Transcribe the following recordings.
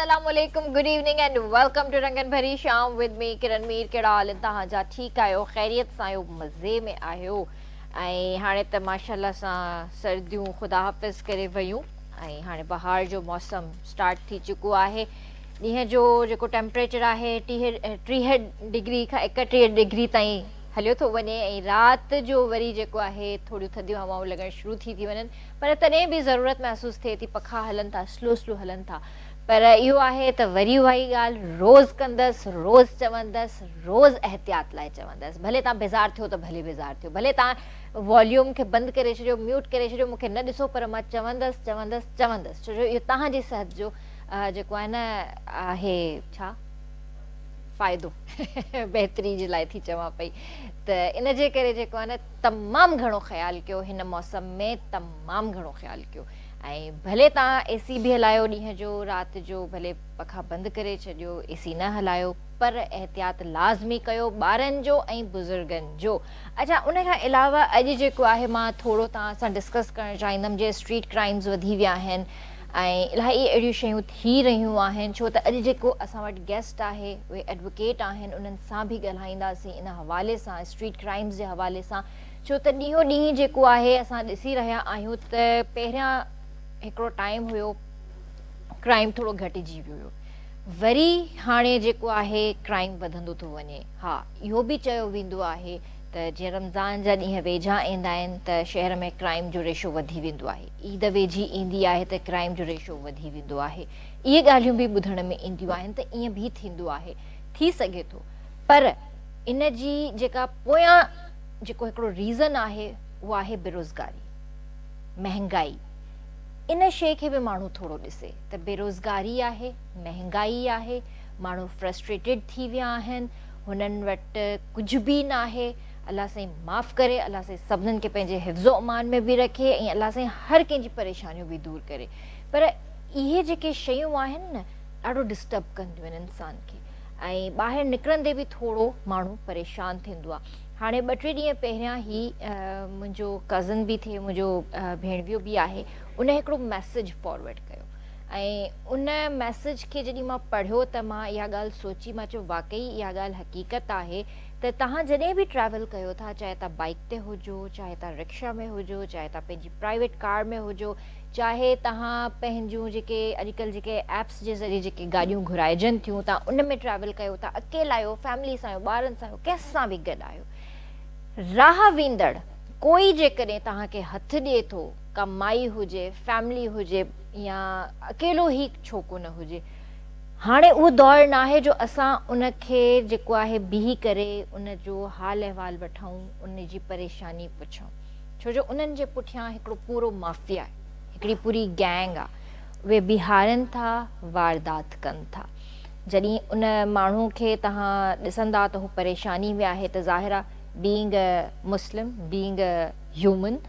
السلام عليڪم good evening and welcome to رنگن ڀري شام ود مي ڪرن مير ڪهڙا حال ان تهان جا ٺيڪ آهيو خيريت سان آهيو مزي ۾ آهيو ۽ هاڻي ته ماشاءالله سان سرديون خدا حافظ ڪري ويون ۽ هاڻي بهار جو موسم اسٽارٽ ٿي چڪو آهي ڏينهن جو جيڪو ٽيمپريچر آهي ٽيهه ڊگري کان ايڪٽيهه ڊگري تائين هليو ٿو وڃي ۽ رات جو وري جيڪو آهي ٿوريون ٿڌيون هوائون لڳڻ شروع ٿي ٿي وڃن پر تڏهن به ضرورت محسوس ٿئي ٿي پکا هلن ٿا سلو سلو هلن ٿا پر اهو آهي ته وري اها ئي ڳالهه روز ڪندس روز چوندس روز احتياط لاء چوندس ڀلي تان بيزار ٿيو ته ڀلي بيزار ٿيو ڀلي تان واليوم کي بند ڪري ڇڏيو ميوٽ ڪري ڇڏيو مون کي نه ڏسو پر مان چوندس چوندس چوندس ڇو جو اهو تهان جي صحت جو اها جيڪو آهي نه آهي ڇا فائدو بهتري جي لاء ٿي چوان پئي ته ان جي ڪري جيڪو آهي نه تمام گهڻو خيال ڪيو هن موسم ۾ تمام گهڻو خيال ڪيو ۽ ڀلي تان اي سي به هلايو ڏينهن جو رات جو ڀلي پکا بند ڪري ڇڏيو اي سي نه هلايو پر احتياط لازمي ڪيو ٻارن جو ۽ بزرگن جو اچا ان کان علاوه اڄ جيڪو آهي مان ٿورو تان سان ڊسڪس ڪرڻ چاهيندم جي اسٽريٽ ڪرائمز وڌي ويا آهن ۽ الاهي اهڙيون شيون ٿي رهيون آهن ڇو ته اڄ جيڪو اسان وٽ گيسٽ آهي اهي ايڊووڪيٽ آهن انهن سان به ڳالهائينداسين ان حوالي سان اسٽريٽ ڪرائمز جي حوالي سان ڇو ته ڏينهون ڏينهن جيڪو آهي اسان ڏسي رهيا آهيون ته پهريان هڪڙو ٽائيم هيو ڪرائيم ٿورو گهٽجي ويو هيو وري هاڻي جيڪو آهي ڪرائيم وڌندو ٿو وڃي ها اهو به چيو ويندو آهي ته جيئن رمضان جا ڏينهن ويجها ايندا آهن ته شهر ۾ ڪرائيم جو ريشو وڌي ويندو آهي عيد ويجهي ايندي آهي ته ڪرائيم جو ريشو وڌي ويندو آهي. اهي ڳالهيون به ٻڌڻ ۾ اينديون آهن ته ائين به ٿيندو آهي. ٿي سگهي ٿو. پر ان جي جيڪا پويان جيڪو هڪڙو ريزن آهي اهو آهي بيروزگاري. مهنگائي. ان شيء کي به ماڻهو ٿورو ڏسي ته بيروزگاري آهي، مهنگائي آهي، ماڻهو فرسٽريٽيڊ ٿي ويا آهن، هنن وٽ ڪجهه به ناهي، الله سائين معاف ڪري الله سائين سڀنن کي پنهنجي حفظ و امان ۾ به رکي ۽ الله سائين هر ڪنهن جي پريشانيون به دور ڪري پر اهي جيڪي شيون آهن نه ڏاڍو ڊسٽرب ڪنديون آهن انسان کي ۽ ٻاهر نڪرندي به ٿورو ماڻهو پريشان ٿيندو آهي هاڻي ٻه ٽي ڏينهن پهريان هي منهنجو ڪزن به ٿئي منهنجو ڀيڻويو به آهي ان هڪڙو ميسج فارورڊ ڪيو ۽ ان ميسج کي جڏهن مان پڙهيو ته مان اها ڳالهه سوچي مان چيو واقعي اها ڳالهه حقيقت آهي ته توهان جڏهن به ٽريول ڪيو ٿا چاهي توهان بائيڪ تي هجو چاهي توهان رڪشا ۾ هجو چاهي توهان پنهنجي پرائيويٽ ڪار ۾ هجو چاهي توهان پنهنجون جيڪي اڄ ڪلهه جيڪي ايپس جي ذريعي جيڪي گاڏيون گهرائجن ٿيون توهان ان ۾ ٽريول ڪيو ٿا اڪيلا آهيو فيملي سان آهيو ٻارن سان آهيو ڪنهن سان به گڏ آهيو راهه ويندڙ ڪوئي جيڪڏهن توهان کي هٿ ڏئي ٿو ڪا مائي هجي فيملي هجي يا اڪيلو هي ڇوڪو نه هجي هاڻي اهو دور ناهي جو اسان ان کي جيڪو آهي بيهي ڪري ان جو حال احوال وٺون، ان جي پريشاني پڇون. ڇو جو انهن جي پٺيان هڪڙو پورو مافيا، هڪڙي پوري گينگ آ. اهي بيهارين ٿا، واردات ڪن ٿا. جڏهن ان ماڻهو کي توهان ڏسندا ته هو پريشاني ۾ آهي ته ظاهر آ being a Muslim, being a human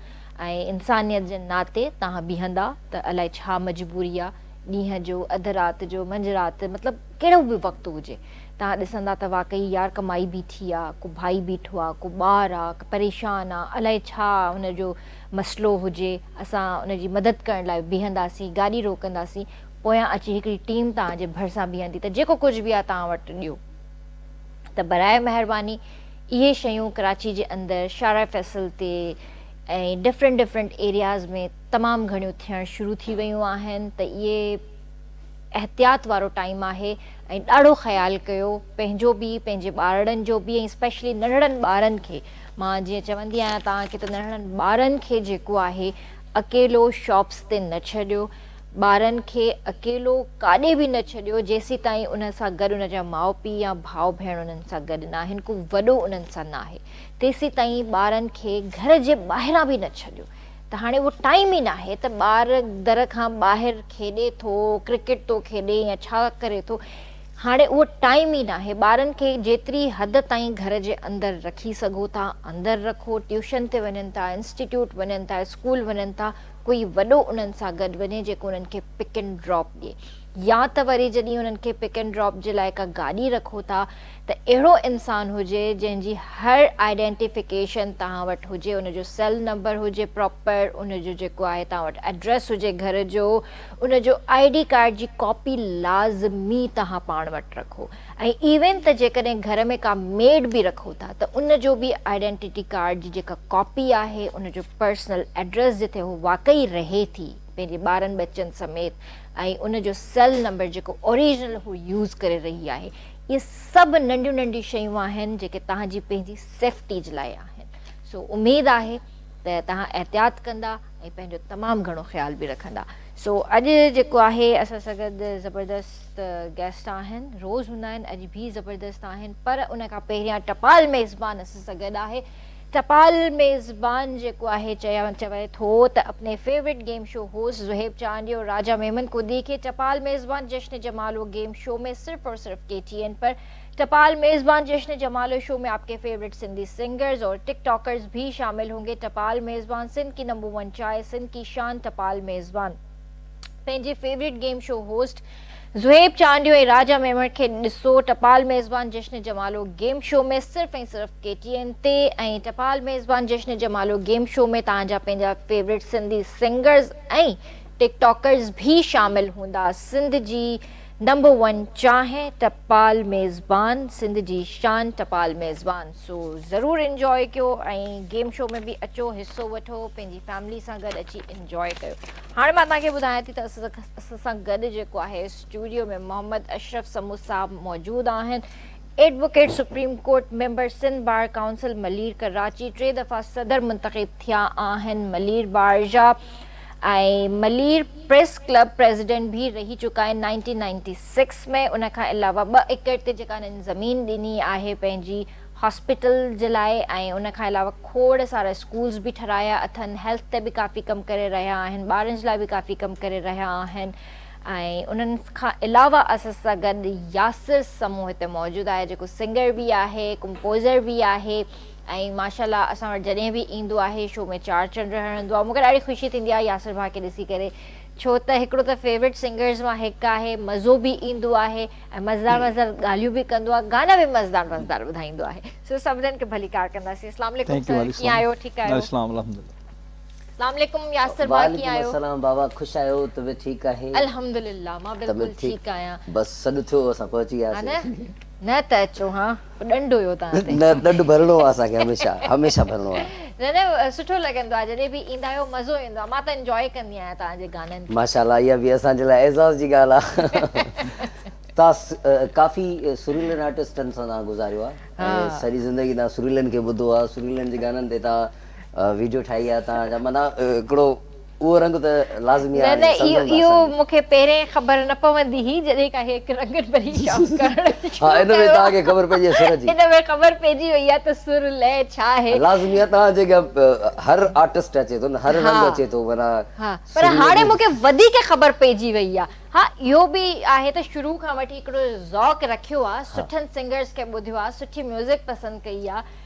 ۽ انسانيت جي ناتي توهان بيهندا ته الائي ڇا مجبوري آ، ڏينهن جو، اڌ رات جو، منجهه رات، مطلب ڪهڙو به وقت هجي. توهان ڏسندا ته واقعي يار ڪه مائي بيٺي آ، ڪو ڀائي بيٺو آ، ڪو ٻار آ، ڪه پريشان آ، الائي ڇا ان جو مسئلو هجي، اسان ان جي مدد ڪرڻ لاء بيهنداسين، گاڏي روڪنداسين، پويان اچي هڪڙي ٽيم توهان جي ڀرسان بيهندي ته جيڪو ڪجهه به آ توهان وٽ ڏيو. ته براء مهرباني اهي شيون ڪراچي جي اندر شارع فيصل تي ۽ ڊفرنٽ ڊفرنٽ ايرياز ۾ تمام گهڻيون ٿيڻ شروع ٿي ويون آهن ته اهي احتياط وارو ٽائيم آهي ۽ ڏاڙهو خيال ڪيو پنهنجو به پنهنجي ٻارڙن جو به ۽ اسپيشلي ننڙن ٻارن کي مان جيئن چوندي آهيان توهان کي ته ننڙن ٻارن کي جيڪو آهي اڪيلو شاپس تي نه ڇڏيو ٻارن کي اڪيلو ڪاڏي به نه ڇڏيو جيسيتائين انهن سان گڏ ان جا ماء پي يا ڀاء ڀيڻ انهن سان گڏ ناهن ڪو وڏو انهن سان ناهي تيسيتائين ٻارن کي گهر جي ٻاهران به نه ڇڏيو ته هاڻي اهو ٽائيم ئي ناهي ته ٻار در کان ٻاهر کيڏي ٿو، ڪرڪيٽ ٿو کيڏي يا ڇا ڪري ٿو، هاڻي اهو ٽائيم ئي ناهي، ٻارن کي جيتري حد تائين گهر جي اندر رکي سگهو ٿا اندر رکو، ٽيوشن تي وڃن ٿا، انسٽيٽيوٽ وڃن ٿا، اسڪول وڃن ٿا، ڪوئي وڏو انهن سان گڏ وڃي جيڪو انهن کي پڪ اينڊ ڊراپ ڏي يا ته وري جڏهن انهن کي پڪ اينڊ ڊراپ جي لاء ڪا گاڏي رکو ٿا، ته اهڙو انسان هجي جنهن جي هر آئيڊينٽيفڪيشن توهان وٽ هجي ان جو سيل نمبر هجي پراپر ان جو جيڪو آهي توهان وٽ ايڊريس هجي گهر جو ان جو آئي ڊي ڪارڊ جي ڪاپي لازمي توهان پاڻ وٽ رکو ۽ ايون ته جيڪڏهن گهر ۾ ڪا ميڊ به رکو ٿا ته ان جو به آئيڊينٽي ڪارڊ جي جيڪا ڪاپي آهي ان جو پرسنل ايڊريس جتي هو واقعي رهي ٿي پنهنجي ٻارن ٻچن سميت ۽ ان جو سيل نمبر جيڪو اوريجنل هو يوز ڪري رهي آهي اهي سڀ ننڍيون ننڍيون شيون آهن جيڪي توهان جي پنهنجي سيفٽي جي لاء آهن سو اميد آهي ته توهان احتياط ڪندا ۽ پنهنجو تمام گهڻو خيال به رکندا سو اڄ جيڪو آهي اسان سان گڏ زبردست گيسٽ آهن روز هوندا آهن اڄ به زبردست آهن پر ان کان پهريان ٽپال ميزبان اسان سان گڏ آهي ٽپال ميزبان جيڪو آهي چوي ٿو ته اپني favourite game show host Zohaib Chandio اور راجا ميمن ڪو ديکي ٽپال ميزبان جشن جمالو گيم شو ۾ صرف اور صرف ڪي ٽي اين پر ٽپال ميزبان جشن جمالو شو ۾ آپڪي فيورٽ سنڌي سنگرز اور ٽڪ ٽاڪرز ڀي شامل هونگي ٽپال ميزبان سنڌ ڪي نمبر ون چاهي سنڌ ڪي شان ٽپال ميزبان پنهنجي favourite game show host Zohaib Chandio ۽ Raja Memon کي ڏسو ٽپال ميزبان جشن جمالو گيم شو ۾ صرف ۽ صرف ڪي ٽي اين تي ۽ ٽپال ميزبان جشن جمالو گيم شو ۾ توهان جا پنهنجا favourite Sindhi singers ۽ TikTokers ڀي شامل هوندا سنڌ جي نمبر ون چانهه ٽپال ميزبان سنڌ جي شان ٽپال ميزبان سو ضرور انجواء ڪيو ۽ گيم شو ۾ به اچو حصو وٺو پنهنجي فيملي سان گڏ اچي انجواء ڪيو هاڻي مان توهان کي ٻڌايان ٿي ته اسان سان گڏ جيڪو آهي اسٽوڊيو ۾ محمد اشرف سمو صاحب موجود آهن advocate supreme court member Sindh bar council Malir Karachi ٽي دفعا صدر منتخب ٿيا آهن ملير بار جا ۽ ملير پريس ڪلب پريزيڊنٽ به رهي چڪا آهن نائنٽين نائنٽي سڪس ۾ ان کان علاوه ٻه ايڪڙ تي جيڪا انهن زمين ڏني آهي پنهنجي هاسپيٽل جي لاء ۽ ان کان علاوه کوڙ سارا اسڪولز به ٺھرايا اٿن هيلٿ تي به ڪافي ڪم ڪري رهيا آهن ٻارن جي لاء به ڪافي ڪم ڪري رهيا آهن ۽ انهن کان علاوه اسان سان گڏ ياسر سمون هتي موجود آهي جيڪو سنگر به آهي ڪمپوزر به آهي ۽ ماشاءالله اسان وٽ جڏهن به ايندو آهي شو ۾ چار چنڊ هڻندو آهي مون کي ڏاڍي خوشي ٿيندي آهي ياسر ڀاء کي ڏسي ڪري ڇو ته هڪڙو ته فيورٽ سنگرز مان هڪ آهي مزو به ايندو آهي ۽ مزدار مزدار ڳالهيون به ڪندو آهي گانا به مزدار مزدار ٻڌائيندو آهي سو سڀنن کي ڀليڪار ڪنداسين اسلام عليڪم سر ڪيئن آهيو ٺيڪ آهيو اسلام الحمدلله اسلام عليڪم ياسر ڀاء ڪيئن آهيو وعليڪم السلام بابا خوش آهيو طبيعت ٺيڪ آهي الحمدلله مان بلڪل ٺيڪ آهيان بس سڏ ٿيو اسان پهچي وياسين نه ته اچو ها ڏنڊ هيو توهان تي. نه ڏنڊ ڀرڻو آ اسان کي هميشه هميشه ڀرڻو آ. نه نه سٺو لڳندو آ جڏهن به ايندا آهيو مزو ايندو آ مان ته انجوائي ڪندي آهيان توهان جي گانن کي. ماشاءالله اها به اسان جي لاء اعزاز جي ڳالهه آ توهان ڪافي سريلن آرٽسٽن سان توهان گذاريو آ ۽ سڄي زندگي توهان سريلن کي ٻڌو آ سريلن جي گانن تي توهان ويڊيو ٺاهي آ توهان جا معنيٰ هڪڙو اهو رنگ ته لازمي آهي. نه نه اهو مون کي پهرين خبر نه پوندي هئي جڏهن کان هيڪ رنگن ڀري شام ڪرڻ شروع ڪيو. ها ان ۾ توهان کي خبر پئجي سر جي. ان ۾ خبر پئجي وئي آهي ته سر لئه ڇا آهي. لازمي آهي توهان جي اڳيان هر آرٽسٽ اچي ٿو نه هر رنگ اچي ٿو معنيٰ. ها پر هاڻي مون کي وڌيڪ خبر پئجي وئي آهي. ها اهو به آهي ته شروع کان وٺي هڪڙو ذوق رکيو آهي سٺن سنگرز کي ٻڌيو آهي سٺي ميوزڪ پسند ڪئي آهي.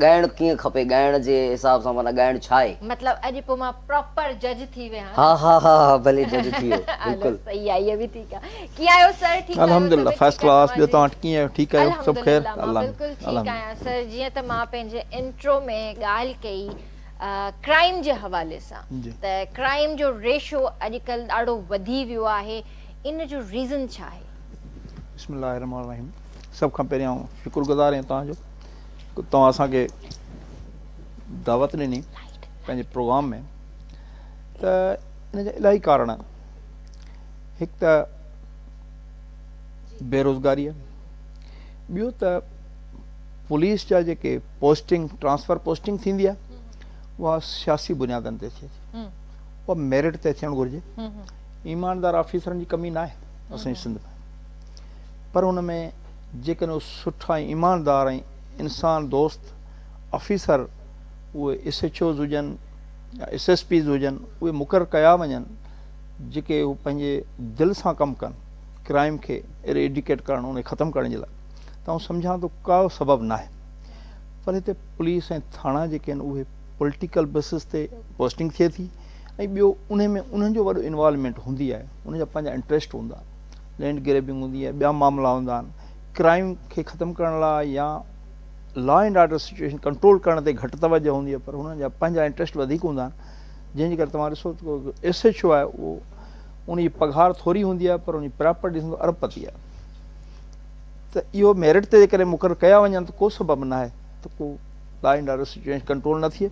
ڳائڻ ڪيئن کپي ڳائڻ جي حساب سان معنيٰ ڳائڻ ڇا آهي. مطلب اڄ پوء مان پراپر جج ٿي ويهان نه. ها ها ها ها ڀلي جج ٿي ويهو بلڪل. صحيح آ اهي به ٺيڪ آ. ڪيئن آهيو سر ٺيڪ آهيو الحمد لله فسٽ ڪلاس ٻيو توهان ٺڪي آهيو ٺيڪ آهيو سڀ خير الحمد لله مان بلڪل ٺيڪ آهيان سر جيئن ته مان پنهنجي انٽرو ۾ ڳالهه ڪئي ڪرائيم جي حوالي سان ته ڪرائيم جو ريشو اڄ ڪلهه ڏاڍو وڌي ويو آهي ان جو ريزن ڇا آهي. بسم الله الرحمٰن الرحيم سڀ کان پهريان آئون شڪر گذار آهيان توهان جو توهان اسان کي دعوت ڏني پنهنجي پروگرام ۾ ته ان جا الاهي ڪارڻ هڪ ته بيروزگاري ٻيو ته پوليس جا جيڪي پوسٽنگ ٽرانسفر پوسٽنگ ٿيندي آهي اها سياسي بنيادن تي ٿئي ٿي اها ميرٽ تي ٿيڻ گهرجي ايماندار آفيسرن جي ڪمي ناهي اسان سنڌ ۾ پر ان ۾ جيڪڏهن اهي سٺا ۽ ايماندار ۽ انسان دوست آفيسر اهي ايس ايڇ اوز هجن يا ايس ايس پيز هجن اهي مقرر ڪيا وڃن جيڪي اهي پنهنجي دل سان ڪم ڪن ڪرائيم کي ايريڊيڪيٽ ڪرڻ ان کي ختم ڪرڻ جي لاء ته آئون سمجهان ٿو ڪا سبب ناهي پر هتي پوليس ۽ ٿاڻا جيڪي آهن اهي پوليٽيڪل بيسس تي پوسٽنگ ٿئي ٿي ۽ ٻيو انهي ۾ انهن جو وڏو انوالومينٽ هوندي آهي انهن جا پنهنجا انٽريسٽ هوندا لينڊ گريبنگ هوندي آهي ٻيا معاملا هوندا آهن ڪرائيم کي ختم ڪرڻ لاء يا law and order situation control ڪرڻ تي گهٽ توجه هوندي آهي پر هنن جا پنهنجا انٽرسٽ وڌيڪ هوندا آهن جنهن جي ڪري توهان ڏسو ته ايس ايچ او آهي اهو ان جي پگهار ٿوري هوندي آهي پر ان جي پراپرٽي ڏسندو ارب پتي آهي ته اهو ميرٽ تي جيڪڏهن مقرر ڪيا وڃن ته ڪو سبب ناهي ته ڪو law and order situation control نه ٿئي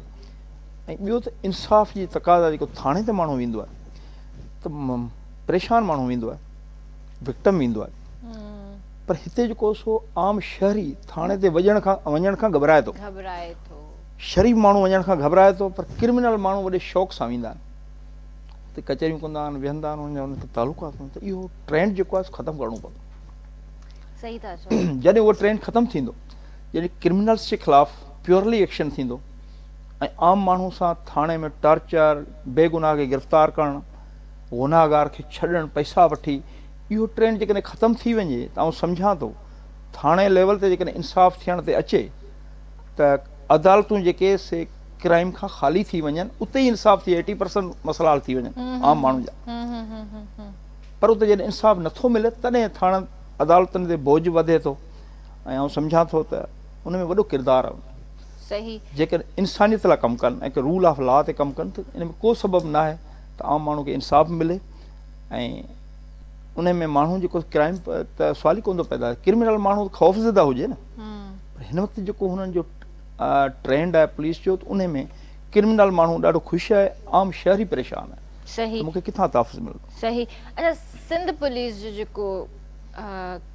۽ ٻيو ته انصاف جي تقاضا جيڪو ٿاڻي تي ماڻهو ويندو آهي ته پريشان ماڻهو ويندو آهي وڪٽم ويندو آهي پر هتي جيڪو سو عام شهري ٿاڻي تي وڄڻ کان وڃڻ کان گهبرائي ٿو گهبرائي ٿو شريف ماڻهو وڃڻ کان گهبرائي ٿو پر ڪرمنل ماڻهو وڏي شوق سان ويندا آهن هتي ڪچهريون ڪندا آهن ويهندا آهن ان جا ان کي تعلقات هوندا ته اهو ٽرينڊ جيڪو آهي ختم ڪرڻو پوندو صحيح ٿا چئو جڏهن اهو ٽرينڊ ختم ٿيندو جڏهن ڪرمنلز جي خلاف پيورلي ايڪشن ٿيندو ۽ عام ماڻهو سان ٿاڻي ۾ ٽارچر بيگناهه کي گرفتار ڪرڻ گنهگار کي ڇڏڻ پئسا وٺي اهو ٽرينڊ جيڪڏهن ختم ٿي وڃي ته آئون سمجهان ٿو ٿاڻي ليول تي جيڪڏهن انصاف ٿيڻ تي اچي ته عدالتون جيڪي سي ڪرائيم کان خالي ٿي وڃن اتي ئي انصاف ٿئي ايٽي پرسنٽ مسئلا حل ٿي وڃن عام ماڻهن جا پر اتي جڏهن انصاف نٿو ملي تڏهن ٿاڻن عدالتن تي بوجھ وڌي ٿو ۽ آئون سمجهان ٿو ته ان ۾ وڏو ڪردار آهي صحيح جيڪڏهن انسانيت لاء ڪم ڪن ۽ رول آف لا تي ڪم ڪن ته ان ۾ ڪو سبب ناهي ته عام ماڻهو کي انصاف ملي ۽ ان ۾ ماڻهو جيڪو ڪرائم ته سوال ئي ڪون ٿو پيدا ڪرمنل ماڻهو خوف زده هجي نه پر هن وقت جيڪو هنن جو ٽرينڊ آهي پوليس جو ته ان ۾ ڪرمنل ماڻهو ڏاڍو خوش آهي عام شهري پريشان آهي صحيح مونکي ڪٿان تحفظ ملندو صحيح اچھا سنڌ پوليس جو جيڪو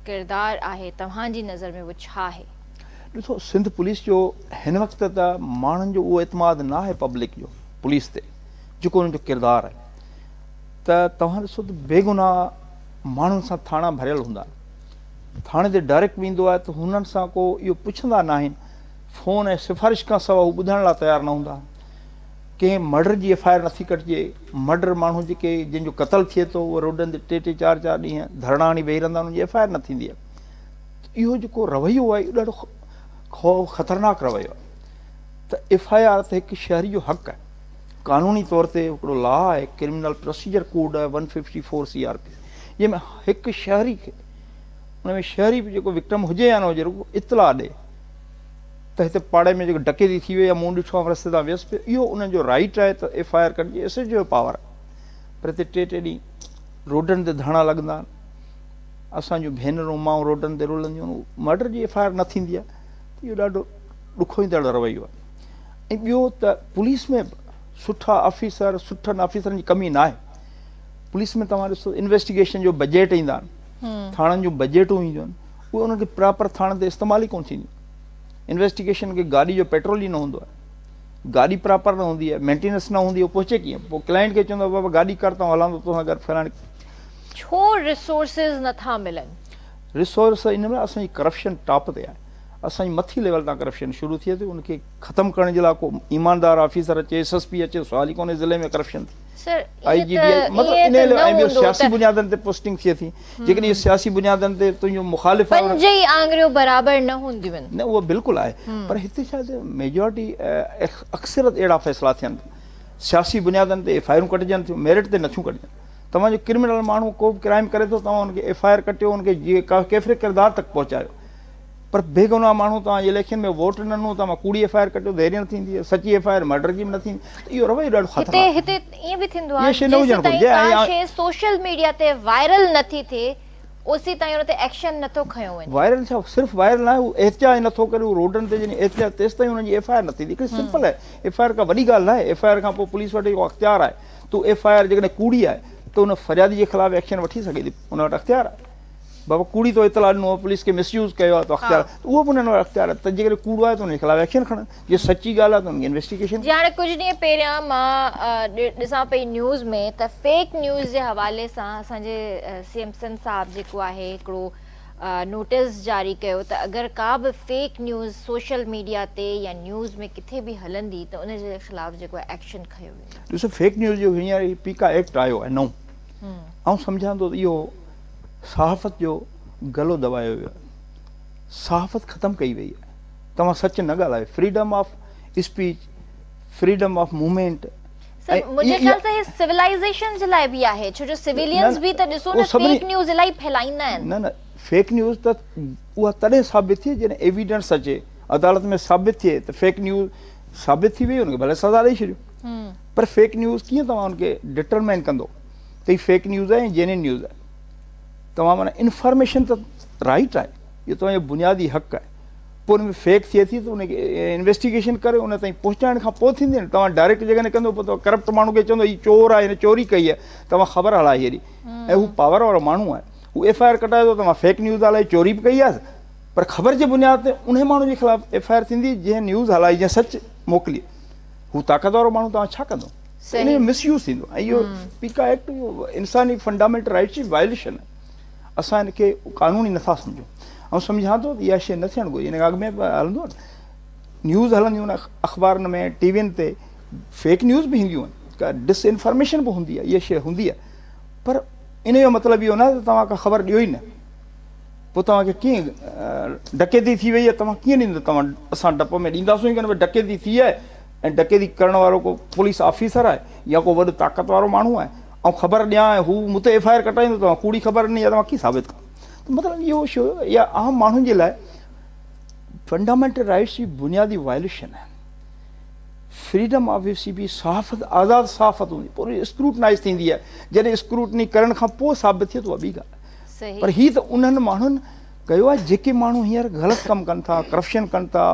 ڪردار آهي توهان جي نظر ۾ اهو ڇا آهي ڏسو سنڌ پوليس جو هن وقت ته ماڻهن جو اهو اعتماد نه آهي پبلڪ جو پوليس تي جيڪو انهن جو ڪردار آهي ته توهان ڏسو ته بيگناهه ماڻهن سان ٿاڻا ڀريل هوندا آهن ٿاڻي تي ڊائريڪٽ ويندو آهي ته هنن سان ڪو اهو پڇندا نه آهن فون ۽ سفارش کان سواء هو ٻڌڻ لاء تيار نه هوندا آهن ڪنهن مرڊر جي ايف آء آر نٿي ڪٽجي مرڊر ماڻهو جيڪي جن جو قتل ٿئي ٿو اهي روڊن تي ٽي ٽي چار چار ڏينهن ڌرڻا هڻي ويهي رهندا انهن جي ايف آء آر نه ٿيندي آهي اهو جيڪو رويو آهي اهو ڏاڍو خطرناڪ رويو آهي ته ايف آء آر ته هڪ شهري جو حق آهي قانوني طور تي هڪڙو لا آهي ڪرمنل پروسيجر ڪوڊ آهي one fifty four C R P جنهن ۾ هڪ شهري کي ان ۾ شهري به جيڪو وڪٽم هجي يا نه هجي رڳو اطلاع ڏي ته هتي پاڙي ۾ جيڪو ڊڪيتي ٿي وئي يا مون ڏٺو آهي رستي تان ويس پيو اهو انهن جو رائيٽ آهي ته ايف آء آر ڪٽجي ايس ايس جو پاور پر هتي ٽي ٽي ڏينهن روڊن تي ڌرڻا لڳندا آهن اسان جون ڀينرون ماؤن روڊن تي رولنديون آهن مرڊر جي ايف آء آر نه ٿيندي آهي اهو ڏاڍو ڏکوئيندڙ رويو آهي ۽ ٻيو ته پوليس ۾ به سٺا آفيسر سٺن آفيسرن جي ڪمي ناهي پوليس ۾ توهان ڏسو انويسٽيگيشن جو بجيٽ ايندا آهن ٿاڻن جون بجيٽون اينديون آهن اهي انهن کي پراپر ٿاڻن تي استعمال ئي ڪون ٿينديون انويسٽيگيشن کي گاڏي جو پيٽرول ئي نه هوندو آهي گاڏي پراپر نه هوندي آهي مينٽيننس نه هوندي آهي پهچي ڪيئن پوء ڪلائنٽ کي چوندو بابا گاڏي ڪر تون هلان ٿو توسان گڏ فلاڻي ڇو ريسورسز نٿا ملن ريسورس ان ۾ اسان جي ڪرپشن ٽاپ تي آهي اسان جي مٿي ليول تان ڪرپشن شروع ٿئي ٿي ان کي ختم ڪرڻ جي لاء ڪو ايماندار آفيسر اچي ايس ايس پي اچي سوال ئي ڪونهي ضلعي ۾ ڪرپشن ٿي سر آئي جي ڊي آئي مطلب ان لاء ۽ ٻيو سياسي بنيادن تي پوسٽنگ ٿئي ٿي جيڪڏهن اهي سياسي بنيادن تي تنهنجو مخالف آهي پنج ئي آڱريون برابر نه هونديون آهن نه اهو بلڪل آهي پر هتي ڇا ٿيو ميجارٽي اڪثريت اهڙا فيصلا ٿين ٿا سياسي بنيادن تي ايف آئي آرون ڪٽجن ٿيون ميرٽ تي نٿيون ڪٽجن توهان جو ڪرمنل ماڻهو ڪو به ڪرائم ڪري ٿو توهان ان کي ايف آئي آر ڪٽيو ان کي جي ڪيفري ڪردار تڪ پهچايو پر بيگناهه ماڻهو توهان جي اليڪشن ۾ ووٽ ڏنن ته اوهان ڪوڙي ايف آء آر ڪٽيو ته اهڙي نه ٿيندي آهي سچي ايف آء آر مرڊر جي به نه ٿيندي ته اهو رويو ڏاڍو خطرناڪ آهي هتي هتي ائين به ٿيندو آهي جيستائين ڪا شيء سوشل ميڊيا تي وائرل نه ٿي ٿئي اوسي تائين ان تي ايڪشن نه ٿو کنيو وڃي وائرل ڇا صرف وائرل ناهي هو احتجاج نه ٿو ڪري هو روڊن تي جڏهن احتجاج تيستائين ان جي ايف آء آر نه ٿيندي هڪڙي سمپل آهي ايف آء آر ڪا وڏي ڳالهه ناهي ايف آء آر کان پوء پوليس وٽ اهو اختيار آهي ته ايف آء آر جيڪڏهن ڪوڙي آهي ته ان فريادي جي خلاف ايڪشن وٺي سگهي ٿي ان وٽ اختيار آهي بابا ڪوڙي تو اطلاع ڏنو آهي پوليس کي مس يوز ڪيو آهي تو اختيار اهو به انهن وٽ اختيار آهي ته جيڪڏهن ڪوڙو آهي ته انهي خلاف ايڪشن کڻن جي سچي ڳالهه آهي ته انهي انويسٽيگيشن جي هاڻي ڪجهه ڏينهن پهريان مان ڏسان پئي نيوز ۾ ته فيڪ نيوز جي حوالي سان اسان جي سي ايم سنڌ صاحب جيڪو آهي هڪڙو نوٽس جاري ڪيو ته اگر ڪا به فيڪ نيوز سوشل ميڊيا تي يا نيوز ۾ ڪٿي به هلندي ته ان جي خلاف جيڪو آهي ايڪشن کنيو ويندو ڏسو فيڪ نيوز جو هينئر پي ڪا ايڪٽ آيو آهي نئون آئون سمجهان ٿو ته اهو صحافت جو گلو دٻايو ويو آهي صحافت ختم ڪئي وئي آهي توهان سچ نه ڳالهايو freedom of speech freedom of movement sir منهنجي خيال سان هي سولائيزيشن جي لاء به آهي ڇو جو سويلينز به ته ڏسو نه فيڪ نيوز الاهي ڦهلائيندا آهن نه نه فيڪ نيوز ته اها تڏهن ثابت ٿئي جڏهن ايويڊنس اچي عدالت ۾ ثابت ٿئي ته فيڪ نيوز ثابت ٿي وئي ان کي ڀلي سزا ڏئي ڇڏيو پر فيڪ نيوز ڪيئن توهان ان کي ڊٽرمائن ڪندو ته هي فيڪ نيوز آهي يا جينين نيوز آهي توهان معنيٰ انفارميشن ته رائٽ آهي اهو توهان جو بنيادي حق آهي پوء ان ۾ فيڪ ٿئي ٿي ته ان کي انويسٽيگيشن ڪري ان تائين پهچائڻ کان پوء ٿيندي نه توهان ڊائريڪٽ جيڪڏهن ڪندو پوء توهان ڪرپٽ ماڻهو کي چوندو هي چور آهي هن چوري ڪئي آهي توهان خبر هلائي هيڏي ۽ هو پاور وارو ماڻهو آهي هو ايف آء آر ڪٽائي ٿو توهان فيڪ نيوز هلائي چوري به ڪئي آهي پر خبر جي بنياد تي ان ماڻهو جي خلاف ايف آء آر ٿيندي جنهن نيوز هلائي جنهن سچ موڪلي هو طاقت وارو ماڻهو توهان ڇا ڪندو ته ان جو مس يوز ٿيندو ۽ اهو پيڪا ايڪٽ اهو انساني فنڊامينٽل رائٽس جي وائليشن آهي اسان ان کي قانون ئي نٿا سمجهون آئون سمجهان ٿو ته اها شيء نه ٿيڻ گهرجي ان کان اڳ ۾ به هلندو آهي نيوز هلنديون آهن اخبارن ۾ ٽي وين تي فيڪ نيوز به اينديون آهن ڪا ڊس انفارميشن به هوندي آهي اها شيء هوندي آهي پر ان جو مطلب اهو نه ته توهان کا خبر ڏيو ئي نه پوء توهان کي ڪيئن ڊڪيتي ٿي وئي آهي توهان ڪيئن ڏيندو توهان اسان ڊپ ۾ ڏينداسون ئي ڪونه ڊڪيتي ٿي آهي ۽ ڊڪيتي ڪرڻ وارو ڪو پوليس آفيسر آهي يا ڪو وڏو طاقت وارو ماڻهو آهي آئون خبر ڏيان ۽ هو مون تي ايف آء آر ڪٽائيندو ته مان ڪوڙي خبر ڏني آهي ته مان ڪيئن ثابت ڪران ته مطلب اهو شو يا عام ماڻهن جي لاء فنڊامينٽل رائٽس جي بنيادي وائليشن آهن فريڊم آف سي بي صحافت آزاد صحافت هوندي پوري اسڪروٽنائز ٿيندي آهي جڏهن اسڪروٽني ڪرڻ کان پوء ثابت ٿئي ته اها ٻي ڳالهه پر هي ته انهن ماڻهن ڪيو آهي جيڪي ماڻهو هينئر غلط ڪم ڪن ٿا ڪرپشن ڪن ٿا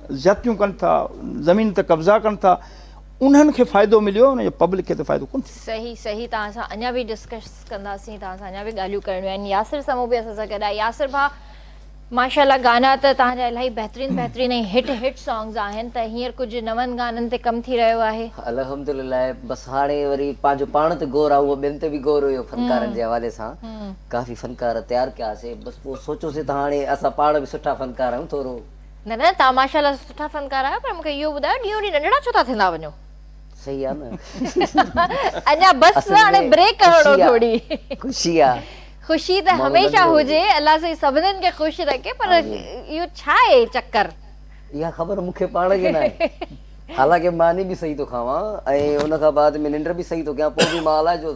زيادتيون ڪن ٿا زمين تي قبضا ڪن ٿا انهن کي فائدو مليو ان جو پبلڪ کي ته فائدو ڪون ٿيو صحيح صحيح توهان سان اڃا به ڊسڪس ڪنداسين توهان سان اڃا به ڳالهيون ڪرڻيون آهن ياسر سمو به اسان سان گڏ آهي ياسر ڀا ماشاءالله گانا ته توهان جا الاهي بهترين بهترين ۽ هٽ هٽ سانگز آهن ته هينئر ڪجهه نون گانن تي ڪم ٿي رهيو آهي الحمدلله بس هاڻي وري پنهنجو پاڻ تي غور آهي هونئن ٻين تي به غور هيو فنڪارن جي حوالي سان ڪافي فنڪار تيار ڪيا سي بس پوء سوچيوسي ته هاڻي اسان پاڻ به سٺا فنڪار آهيون ٿورو. نه نه توهان ماشاء الله سٺا فنڪار آهيو پر مون کي اهو ٻڌايو ڏينهون ڏينهن ننڍڙا ڇو ٿا ٿيندا وڃو. صحيح آ نه. اڃا بس هاڻي بريڪ هڻو ٿوري. خوشي آ. خوشي ته هميشه هجي الله سائين سڀنن کي خوش رکي پر اهو ڇا آهي چڪر. اها خبر مون کي پاڻ کي ناهي حالانڪه ماني به صحيح ٿو کاوان ۽ ان کان بعد ۾ ننڊ به صحيح ٿو ڪيان پوء به مان الائي جو.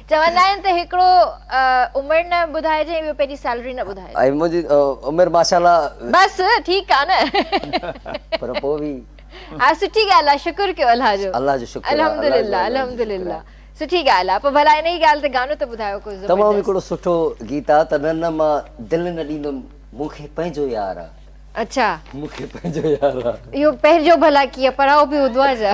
چوندا آهن ته هڪڙو عمر نه ٻڌائجي ۽ ٻيو پنهنجي سيلري نه ٻڌائجي. ۽ منهنجي عمر ماشاءالله. بس ٺيڪ آ نه. پر پوء به. ها سٺي ڳالهه آ شڪر ڪيو الله جو. الله جو شڪر آ. الحمدلله الحمدلله سٺي ڳالهه آ. پوء ڀلا انهي ڳالهه تي گانو ته ٻڌايو ڪو زبردست. تمام هڪڙو سٺو گيت آ ته نه نه مان دل نه ڏيندم مون کي پنهنجو يار آ. اڇا. مون کي پنهنجو يار آ. اهو پنهنجو ڀلا ڪيئن پراو به هوندو آ ڇا.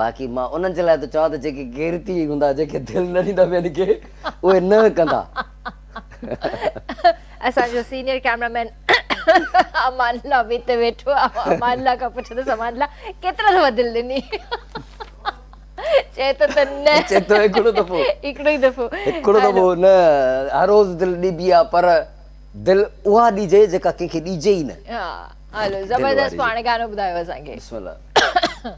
باقي مان انهن جي لاء ٿو چوان ته جيڪي غيرتي ئي هوندا جن کي دل نه ڏيندا ٻين کي اهي نه ڪندا. اسان جو senior cameraman Amanullah به اتي ويٺو آهي آئون امان الله کان پڇندس امان الله ڪيترا دفعا دل ڏني چئي ٿو ته نه چئي ٿو هڪڙو دفعو هڪڙو ئي دفعو هڪڙو دفعو نه هر روز دل ڏبي آهي پر دل اها ڏجي جيڪا ڪنهن کي ڏجي ئي نه ها هلو زبردست پاڻ گانو ٻڌايو اسان کي بسم الله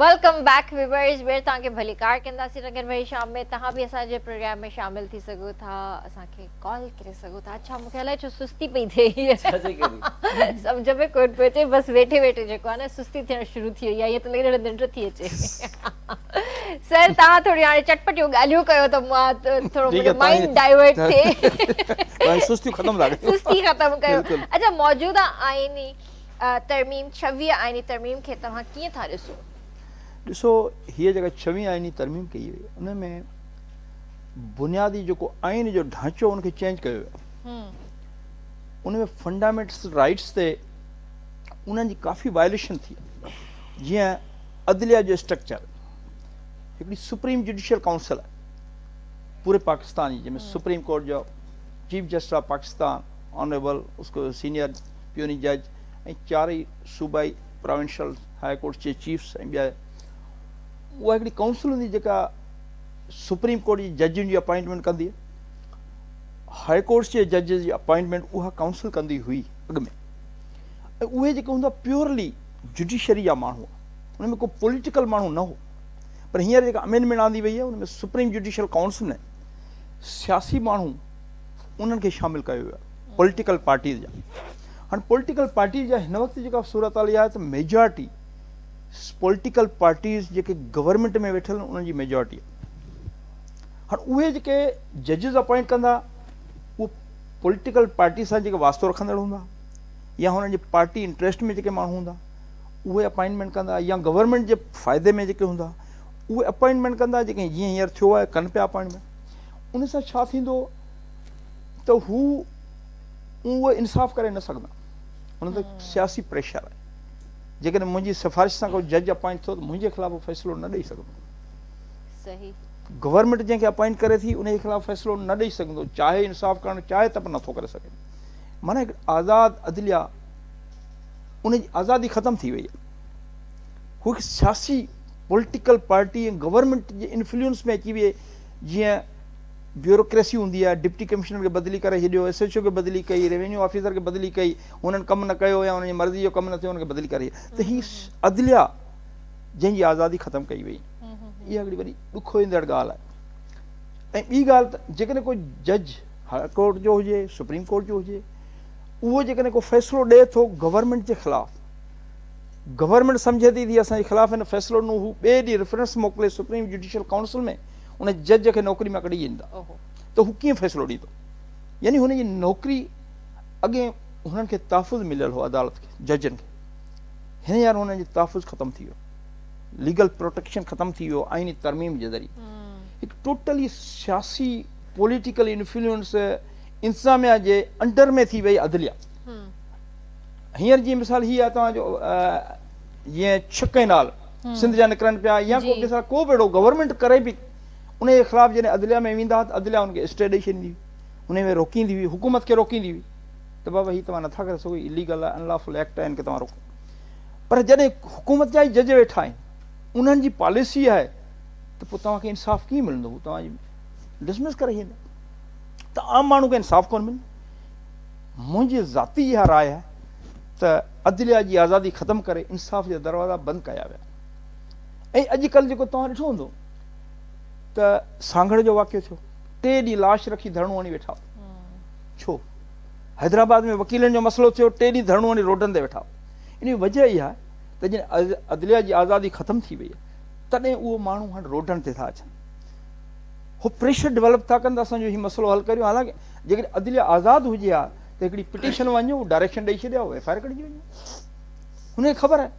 ويلڪم بيڪ ويورز ٻير توهان کي ڀليڪار ڪنداسين رنگين ڀري شام ۾ تهان به اسان جي پروگرام ۾ شامل ٿي سگهو ٿا اسان کي ڪال ڪري سگهو ٿا اڇا مون کي الائي ڇو سستي پئي ٿئي هي سمجھ ۾ ڪون پيو اچي بس ويٺي ويٺي جيڪو آهي نه سستي ٿيڻ شروع ٿي وئي آهي ته لڳي ننڊ ٿي اچي سر تهان ٿوري هاڻي چٽپٽيون ڳالهيون ڪيو ته مان ٿورو منهنجو مائنڊ ڊائيورٽ ٿئي سستي ختم ٿا ڪيو سستي ختم ڪيو اچا موجوده آئيني ترميم، ڇويهين آئيني ترميم کي توهان ڪيئن ٿا ڏسو؟ ڏسو هيء جيڪا ڇويهين آئيني ترميم ڪئي وئي ان ۾ بنيادي جيڪو آئين جو ڍانچو ان کي چينج ڪيو ويو ان ۾ فنڊامينٽس رائٽس تي انهن جي ڪافي وائليشن ٿي جيئن عدليه جو اسٽرڪچر هڪڙي سپريم جوڊيشل ڪائونسل آهي پوري پاڪستان جي جنهن ۾ سپريم ڪورٽ جو chief justice of Pakistan honourable اس کو سينئر پيوني جج ۽ چارئي صوبائي پراونشل هاء ڪورٽس جي چيفس ۽ ٻيا اها هڪڙي ڪائونسل هوندي جيڪا سپريم ڪورٽ جي ججن جي اپائنٽمينٽ ڪندي هاء ڪورٽس جي ججز جي اپائنٽمينٽ اها ڪائونسل ڪندي هئي اڳ ۾ اهي جيڪي هوندا پيورلي جوڊيشري جا ماڻهو ان ۾ ڪو پوليٽيڪل ماڻهو نه هو پر هينئر جيڪا امينڊمينٽ آندي وئي آهي ان ۾ سپريم جوڊيشل ڪائونسل ۾ سياسي ماڻهو انهن کي شامل ڪيو ويو پوليٽيڪل پارٽيز جا هاڻ پوليٽيڪل پارٽيز جا هن وقت جيڪا صورتحال اها آهي ته ميجارٽي پوليٽيڪل پارٽيز جيڪي گورنمنٽ ۾ ويٺل انهن جي ميجارٽي آهي هاڻ اهي جيڪي ججز اپوائنٽ ڪندا اهو پوليٽيڪل پارٽي سان جيڪي واسطو رکندڙ هوندا يا هنن جي پارٽي انٽرسٽ ۾ جيڪي ماڻهو هوندا اهي اپوائنٽمنٽ ڪندا يا گورنمنٽ جي فائدي ۾ جيڪي هوندا اهي اپوائنٽمنٽ ڪندا جيڪي جيئن هيئر ٿيو آهي ڪن پيا اپوائنٽمنٽ ان سان ڇا ٿيندو ته هو اهو انصاف ڪري نه سگهندا. هن تي سياسي پريشر آهي. جيڪڏهن منهنجي سفارش سان ڪو جج اپائنٽ ٿيو ته منهنجي خلاف هو فيصلو نه ڏئي سگهندو. گورنمينٽ جنهن کي اپائنٽ ڪري ٿي ان جي خلاف فيصلو نه ڏئي سگهندو چاهي انصاف ڪرڻ چاهي ته به نه ٿو ڪري سگهي. معنيٰ هڪ آزاد عدليه ان جي آزادي ختم ٿي وئي آهي. هو هڪ سياسي پوليٽيڪل پارٽي ۽ گورنمينٽ جي انفلوئنس ۾ اچي ويئي جيئن بيوروڪريسي هوندي آهي، ڊپٽي ڪمشنر کي بدلي ڪري ڇڏيو، ايس ايڇ او کي بدلي ڪئي، ريونيو آفيسر کي بدلي ڪئي، هنن ڪم نه ڪيو يا هنن جي مرضي جو ڪم نه ٿيو هن کي بدلي ڪري ڇڏيو ته هي عدليا جنهن جي آزادي ختم ڪئي وئي اها هڪڙي وڏي ڏک هوندڙ ڳالهه آهي ۽ ٻي ڳالهه ته جيڪڏهن ڪو جج هاء ڪورٽ جو هجي سپريم ڪورٽ جو هجي اهو جيڪڏهن ڪو فيصلو ڏئي ٿو گورنمنٽ جي خلاف گورنمنٽ سمجهي ٿي تي اسان جي خلاف هن فيصلو ڏنو هو ٻئي ڏينهن ريفرنس موڪلي سپريم جوڊيشل ڪائونسل ۾ ان جج کي نوڪري مان ڪڍي ڇڏيندا ته هو ڪيئن فيصلو ڏيندو يعني هن جي نوڪري اڳين هنن کي تحفظ مليل هو عدالت کي ججن کي هينئر هنن جو تحفظ ختم ٿي ويو ليگل پروٽيڪشن ختم ٿي ويو آئيني ترميم جي ذريعي هڪ ٽوٽلي سياسي پوليٽيڪل انفلوئنس انتظاميا جي انڊر ۾ ٿي وئي عدليا هينئر جي مثال هي آهي توهان جو جيئن ڇڪ ڪئنال سنڌ جا نڪرن پيا يا ڪو ڪنهن سان ڪو به اهڙو گورنمينٽ ڪري به انهي جي خلاف جڏهن عدليه ۾ ويندا ها ته عدليه ان کي اسٽي ڏئي ڇڏيندي هئي انهي ۾ روڪيندي هئي حڪومت کي روڪيندي هئي ته بابا هي توهان نٿا ڪري سگهو هي ليگل آهي ان لا فل ايڪٽ آهي ان کي توهان روڪو پر جڏهن حڪومت جا ئي جج ويٺا آهن انهن جي پاليسي آهي ته پوء توهان کي انصاف ڪيئن ملندو هو توهان جي ڊسمس ڪري ڇڏيندا ته عام ماڻهو کي انصاف ڪونه ملندو منهنجي ذاتي اها راء آهي ته عدليه جي آزادي ختم ڪري انصاف جا دروازا بند ڪيا ويا ۽ اڄ ڪلهه جيڪو توهان ڏٺو هوندو ته سانگهڙ جو واقعو ٿيو ٽي ڏينهن لاش رکي ڌرڻو هڻي ويٺا ڇو حيدرآباد ۾ وڪيلن جو مسئلو ٿيو ٽي ڏينهن ڌرڻو هڻي روڊن تي ويٺا ان جي وجه اها آهي ته جڏهن عدليه جي آزادي ختم ٿي وئي تڏهن اهو ماڻهو هاڻي روڊن تي ٿا اچن هو پريشر ڊيولپ ٿا ڪن ته اسان جو هي مسئلو حل ڪريون حالانڪه جيڪڏهن عدليه آزاد هجي ها ته هڪڙي پٽيشن وڃو ڊائريڪشن ڏئي ڇڏيا اهو ايف آر ڪڍجي وڃو هن کي خبر آهي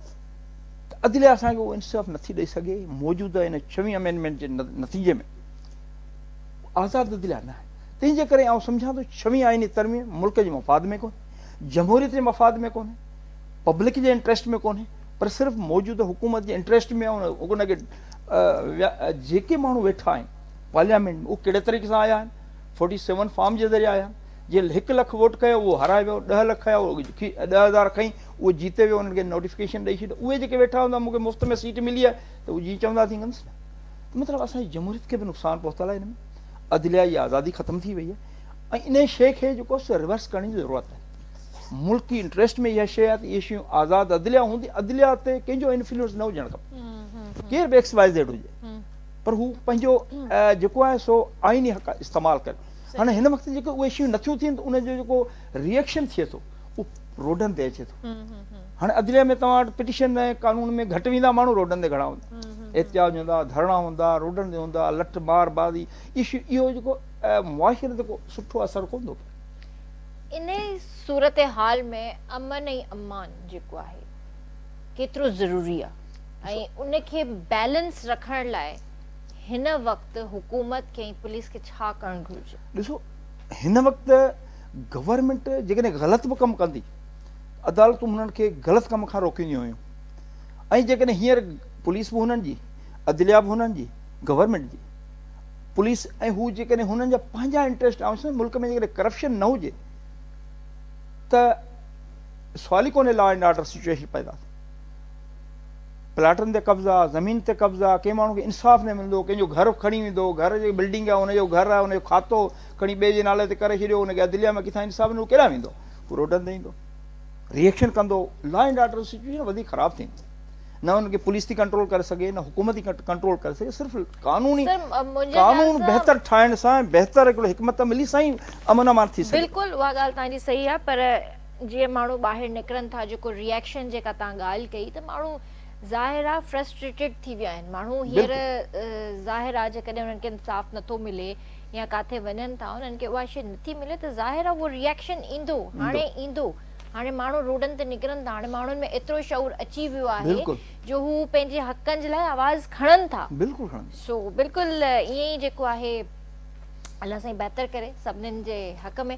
ته عدليه اسان کي اهو انصاف نٿي ڏئي سگهي موجوده ان ڇوين امينڊمينٽ جي نتيجي ۾ آزاد عدليه نه آهي تنهن جي ڪري آئون سمجهان ٿو ڇوين آئيني ترميم ملڪ جي مفاد ۾ ڪونهي جمهوريت جي مفاد ۾ ڪونهي پبلڪ جي انٽرسٽ ۾ ڪونهي پر صرف موجوده حڪومت جي انٽرسٽ ۾ ان کي جيڪي ماڻهو ويٺا آهن پارليامينٽ ۾ اهو ڪهڙي طريقي سان آيا آهن فورٽي سيون فارم جي ذريعي آيا آهن جنهن هڪ لک ووٽ ڪيو اهو هارائي ويو، ڏهه لک کنيا اهو ڏهه هزار کنئي اهو جيتي ويو انهن کي نوٽيفڪيشن ڏئي ڇڏ اهي جيڪي ويٺا هوندا مون کي مفت ۾ سيٽ ملي آهي ته اهو جيئن چوندا تيئن ڪندس نه ته مطلب اسان جي جمهوريت کي به نقصان پهتل آهي ان ۾ عدليه جي آزادي ختم ٿي وئي آهي ۽ ان شيء کي جيڪو سو ريورس ڪرڻ جي ضرورت آهي ملڪ جي انٽريسٽ ۾ اها شيء آهي ته اهي شيون آزاد عدليه هوندي عدليه تي ڪنهن جو انفلوئنس نه هجڻ کپي ڪير به ايڪس واء زيڊ هجي پر هو پنهنجو جيڪو آهي سو آئيني حق استعمال ڪري هاڻي هن وقت جيڪي اهي شيون نٿيون ٿين ته ان جو جيڪو ريئڪشن ٿئي ٿو اهو روڊن تي اچي ٿو هاڻي عدليه ۾ توهان وٽ پٽيشن ۽ قانون ۾ گهٽ ويندا ماڻهو روڊن تي گهڻا هوندا احتجاج هوندا ڌرڻا هوندا روڊن تي هوندا لٺ مار بازي اهو جيڪو معاشري تي ڪو سٺو اثر ڪون ٿو پئي ان صورتحال ۾ امن ۽ امان جيڪو آهي ڪيترو ضروري آهي ۽ ان کي بيلنس رکڻ لاء هن وقت حڪومت کي ۽ پوليس کي ڇا ڪرڻ گهرجي؟ ڏسو هن وقت گورنمينٽ جيڪڏهن غلط به ڪم ڪندي ته عدالتون هنن کي غلط ڪم کان روڪينديون هيون ۽ جيڪڏهن هينئر پوليس به هنن جي عدليا به هنن جي گورنمينٽ جي پوليس ۽ هو جيڪڏهن هنن جا پنهنجا انٽريسٽ آهن سمجهه ملڪ ۾ جيڪڏهن ڪرپشن نه هجي ته سوال ئي ڪونهي لا اينڊ آرڊر سچويشن پيدا ٿي پلاٽن تي قبضا، زمين تي قبضا، ڪنهن ماڻهو کي انصاف نه ملندو، ڪنهن جو گهر کڻي ويندو، گهر جي بلڊنگ آهي ان جو گهر آهي ان جو کاتو کڻي ٻئي جي نالي تي ڪري ڇڏيو، ان کي عدليه مان ڪٿان انصاف ملندو، هو ڪيڏانهن ويندو، هو روڊن تي ايندو، ري ايڪشن ڪندو، لا اينڊ آرڊر سچويشن وڌيڪ خراب ٿيندي. نه ان کي پوليس ٿي ڪنٽرول ڪري سگهي نه حڪومت ٿي ڪنٽرول ڪري سگهي صرف قانوني قانون بهتر ٺاهڻ سان بهتر هڪڙو حڪمت عملي سان ئي امن امان ٿي سگهي ٿو. بلڪل اها ڳالهه توهان جي صحيح آهي پر جيئن ماڻهو ٻاهر نڪرن ٿا جيڪو ريئڪشن جيڪا توهان ڳالهه ڪئي ته ماڻهو ظاهر آهي فرسٽريٽيڊ ٿي ويا آهن ماڻهو هينئر ظاهر آهي جيڪڏهن انهن کي انصاف نٿو ملي يا ڪاٿي وڃن ٿا انهن کي اها شي نٿي ملي ته ظاهر آهي اهو ريئڪشن ايندو هاڻي ايندو هاڻي ماڻهو روڊن تي نڪرن ٿا هاڻي ماڻهن ۾ ايترو شعور اچي ويو آهي جو هو پنهنجي حقن جي لاء آواز کڻن ٿا سو بلڪل ائين ئي جيڪو آهي الله سائين بهتر ڪري سڀنن جي حق ۾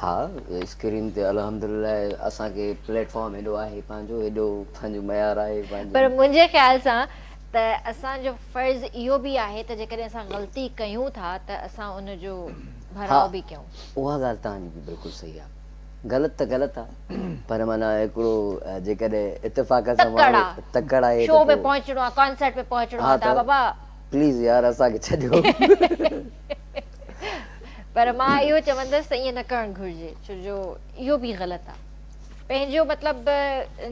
ها اسڪرين تي الحمدلله اسان کي پليٽ فارم هيڏو آهي پنهنجو هيڏو پنهنجو معيار آهي پنهنجو پر منهنجي خيال سان ته اسان جو فرض اهو به آهي ته جيڪڏهن اسان غلطي ڪيون ٿا ته اسان ان جو ڀراء به ڪيون. ها اها ڳالهه توهان جي به بلڪل صحيح آهي غلط ته غلط آهي پر معنيٰ هڪڙو جيڪڏهن اتفاق سان ماڻهو تڪڙ آهي ته پوء شو ۾ پهچڻو آهي ڪانسرٽ ۾ پهچڻو آهي ته بابا پليز يار اسان کي ڇڏيو. پر مان اهو چوندس ته ائين نه ڪرڻ گهرجي ڇو جو اهو به غلط آهي پنهنجو مطلب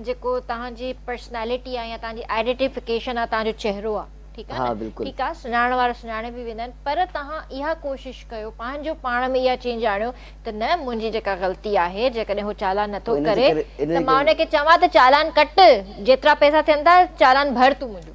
جيڪو توهان جي پرسنالٽي آهي يا توهان جي آئيڊيٽيفڪيشن آهي توهان جو چهرو آهي ٺيڪ آهي نه ٺيڪ آهي سڃاڻڻ وارا سڃاڻي به ويندا آهن پر توهان اها ڪوشش ڪيو پنهنجو پاڻ ۾ اها چينج آڻيو ته نه منهنجي جيڪا غلطي آهي جيڪڏهن هو چالان نٿو ڪري ته مان هن کي چوان ته چالان ڪٽ جيترا پئسا ٿين ٿا چالان ڀر تون منهنجو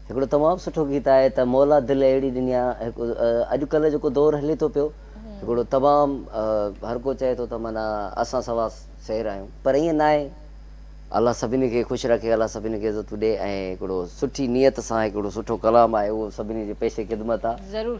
هڪڙو تمام سٺو گيت آهي ته مولا دل اهڙي ڏني آ هڪ اڄ ڪلهه جيڪو دور هلي ٿو پيو هڪڙو تمام هر ڪو چئي ٿو ته معنيٰ اسان سوا شهر آهيون پر ائين ناهي الله سڀني کي خوش رکي الله سڀني کي عزتون ڏي ۽ هڪڙو سٺي نيت سان هڪڙو سٺو ڪلام آهي اهو سڀني جي پيش خدمت آ ضرور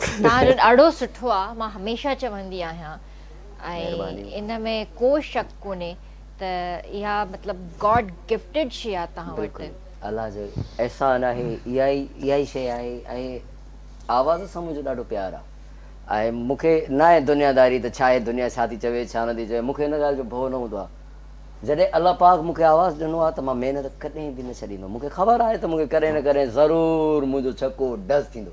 توهان جو ڏاڍو سٺو آ مان هميشه چوندي آهيان ۽ ان ۾ ڪو شڪ ڪونهي ته اها مطلب گاڊ گفٽيڊ شي آ توهان وٽ بلڪل الله جو احسان آهي اها ئي اها ئي شي آهي ۽ آواز سان منهنجو ڏاڍو پيار آ ۽ مون کي ناهي دنيا داري ته ڇا هي دنيا ڇا ٿي چوي ڇا نه ٿي چوي مون کي ان ڳالهه جو ڀؤ نه هوندو آ جڏهن الله پاڪ مون کي آواز ڏنو آ ته مان محنت ڪڏهن به نه ڇڏيندم مون کي خبر آهي ته مون کي ڪڏهن نه ڪڏهن ضرور منهنجو ڇڪو ڊز ٿيندو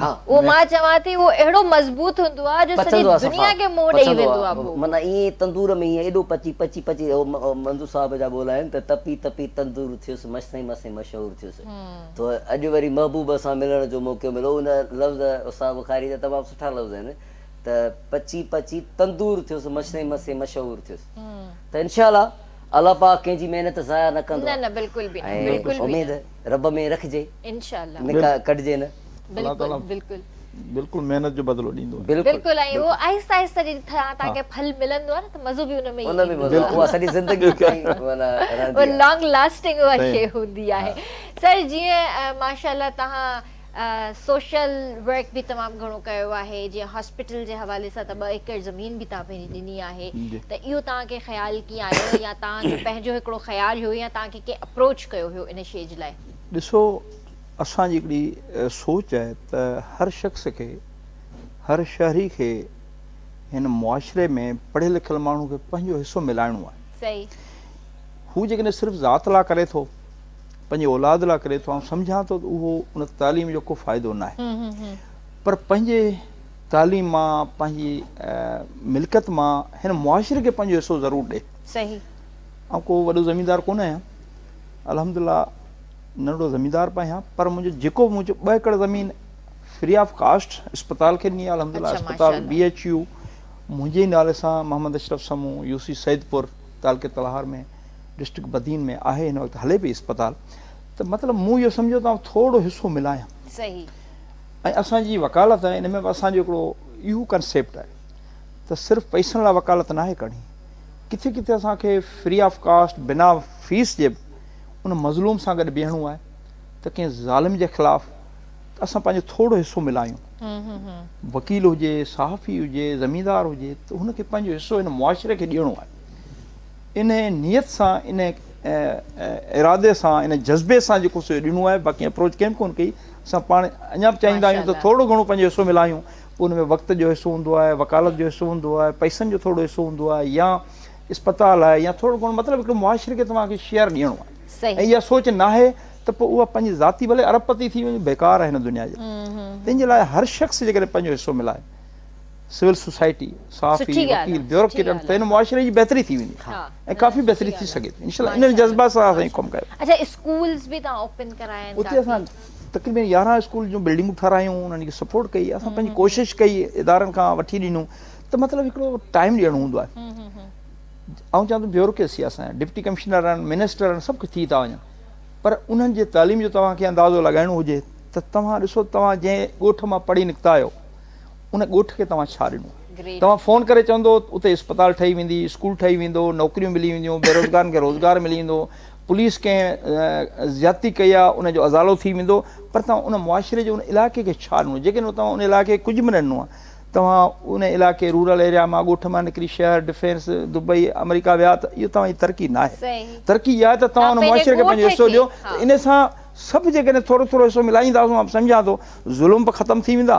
اهو مان چوان ٿي اهو اهڙو مضبوط هوندو آهي جو سڄي دنيا کي منهن ڏئي ويندو آهي اهو. معنيٰ ائين تندور ۾ ائين ايڏو پچي پچي پچي منظور صاحب جا ٻول آهن ته تپي تپي تندور ٿيس مشسين مشسين مشهور ٿيس تو اڄ وري محبوب سان ملڻ جو موقعو مليو ان لفظ استاد بخاري جا تمام سٺا لفظ آهن ته پچي پچي تندور ٿيس مشسين مشسين مشهور ٿيس ته انشاء الله الله پاڪ ڪنهن جي محنت ضايع نه ڪندو نه نه بلڪل به نه بلڪل به نه ۽ اميد رب ۾ رکجي انشاء الله نڪا ڪڍجي نه. الله تعالي بلڪل بلڪل. بلڪل محنت جو بدلو ڏيندو آهي. بلڪل بلڪل ۽ اهو آهستي آهستي جي تھان تھان کي ڦل ملندو آهي نه ته مزو به ان ۾ ان ۾ مزو اها سڄي زندگي تائين معنيٰ رهندي آهي. لانگ لاسٽنگ اها شيء هوندي آهي. سر جيئن ماشاء الله تهان سوشل ورڪ به تمام گهڻو ڪيو آهي جيئن هاسپيٽل جي حوالي سان ته ٻه ايڪڙ زمين به تهان پنهنجي ڏني آهي ته اهو تهان کي خيال ڪيئن آيو يا تهان جو پنهنجو هڪڙو خيال هيو يا تهان کي ڪنهن اپروچ ڪيو هيو ان شيء جي لاء؟ ڏسو اسان جي هڪڙي سوچ آهي ته هر شخص کي هر شهري کي هن معاشري ۾ پڙهيل لکيل ماڻهو کي پنهنجو حصو ملائڻو آهي صحيح هو جيڪڏهن صرف ذات لا ڪري ٿو پنهنجي اولاد لاء ڪري ٿو آئون سمجهان ٿو ته اهو ان تعليم جو ڪو فائدو نه آهي پر پنهنجي تعليم مان پنهنجي ملڪت مان هن معاشري کي پنهنجو حصو ضرور ڏي صحيح آئون ڪو وڏو زميندار ڪونه آهيان الحمدلله ننڍڙو زميندار پي آهيان پر منهنجو جيڪو به منهنجو ٻه ايڪڙ زمين فري آف ڪاسٽ اسپتال کي ڏني الحمد لله اسپتال بي ايچ يو منهنجي نالي سان محمد اشرف سمون يو سی سيدپور تعلقي تلهار ۾ ڊسٽرڪٽ بدين ۾ آهي هن وقت هلي پئي اسپتال ته مطلب مون اهو سمجهيو ته آئون ٿورڙو حصو ملايان صحيح ۽ اسان جي وڪالت آهي ان ۾ به اسان جو هڪڙو اهو ڪنسيپٽ آهي ته صرف پئسن لاء وڪالت ناهي ڪرڻي ڪٿي ڪٿي اسان کي فري آف ڪاسٽ بنا فيس جي به ان مظلوم سان گڏ بيهڻو آهي ته ڪنهن ظالم جي خلاف ته اسان پنهنجو ٿورڙو حصو ملايون وڪيل هجي صحافي هجي زميندار هجي ته هن کي پنهنجو حصو هن معاشري کي ڏيڻو آهي انهيء نيت سان، انهيء ارادي سان، انهيء جذبي سان جيڪو سو اهو ڏنو آهي، باقي اپروچ ڪنهن به ڪونه ڪئي. اسان پاڻ اڃا به چاهيندا آهيون ته ٿورڙو گهڻو پنهنجو حصو ملايون. پوء ان ۾ وقت جو حصو هوندو آهي، وڪالت جو حصو هوندو آهي، پئسن جو ٿورڙو حصو هوندو آهي يا اسپتال آهي يا ٿورڙو گهڻو مطلب هڪڙي معاشري کي توهان کي شيئر ڏيڻو آهي. ۽ اها سوچ ناهي ته پوء اها پنهنجي ذاتي ڀلي ارب پتي ٿي وڃي بيڪار آهي هن دنيا جي لاء. تنهن جي لاء هر شخص جيڪڏهن پنهنجو حصو ملائي سول سوسائٽي، صحافي، وڪيل، بيوروڪريٽن سان هن معاشري جي بهتري ٿي ويندي ۽ ڪافي بهتري ٿي سگهي ٿي. انشاء الله انهن جذبات سان اسان ڪم ڪيو. اڇا اسڪولز به توهان اوپن ڪرايا آهن ڪافي. اتي اسان تقريبن يارهن اسڪول جون بلڊنگون ٺهرايون انهن کي سپورٽ ڪئي اسان پنهنجي ڪوشش ڪئي ادارن کان وٺي ڏنون ته مطلب هڪڙو ٽائيم ڏيڻو هوندو آهي آئون چوان ٿو بيوروڪريسي آهي اسان جا ڊپٽي ڪمشنر آهن منسٽر آهن سڀ ڪجهه ٿي ٿا وڃن پر انهن جي تعليم جو توهان کي اندازو لڳائڻو هجي ته توهان ڏسو توهان جنهن ڳوٺ مان پڙهي نڪتا آهيو ان ڳوٺ کي توهان ڇا ڏنو؟ توهان فون ڪري چوندو اتي اسپتال ٺهي ويندي، اسڪول ٺهي ويندو، نوڪريون ملي وينديون، بيروزگارن کي روزگار ملي ويندو، پوليس ڪنهن زيادتي ڪئي آهي ان جو ازالو ٿي ويندو پر توهان ان معاشري جي ان علائقي کي ڇا ڏنو؟ جيڪڏهن توهان ان علائقي کي ڪجهه به نه ڏنو توهان ان علائقي رورل ايريا مان ڳوٺ مان نڪري شهر، ڊفينس، دبئي، آمريڪا ويا ته اهو توهان جي ترقي نه آهي. ترقي اها آهي ته توهان ان معاشري کي پنهنجو حصو ڏيو ته ان سان سڀ جيڪڏهن ٿورو ٿورو حصو ملائيندا سو مان سمجهان ٿو ظلم به ختم ٿي ويندا،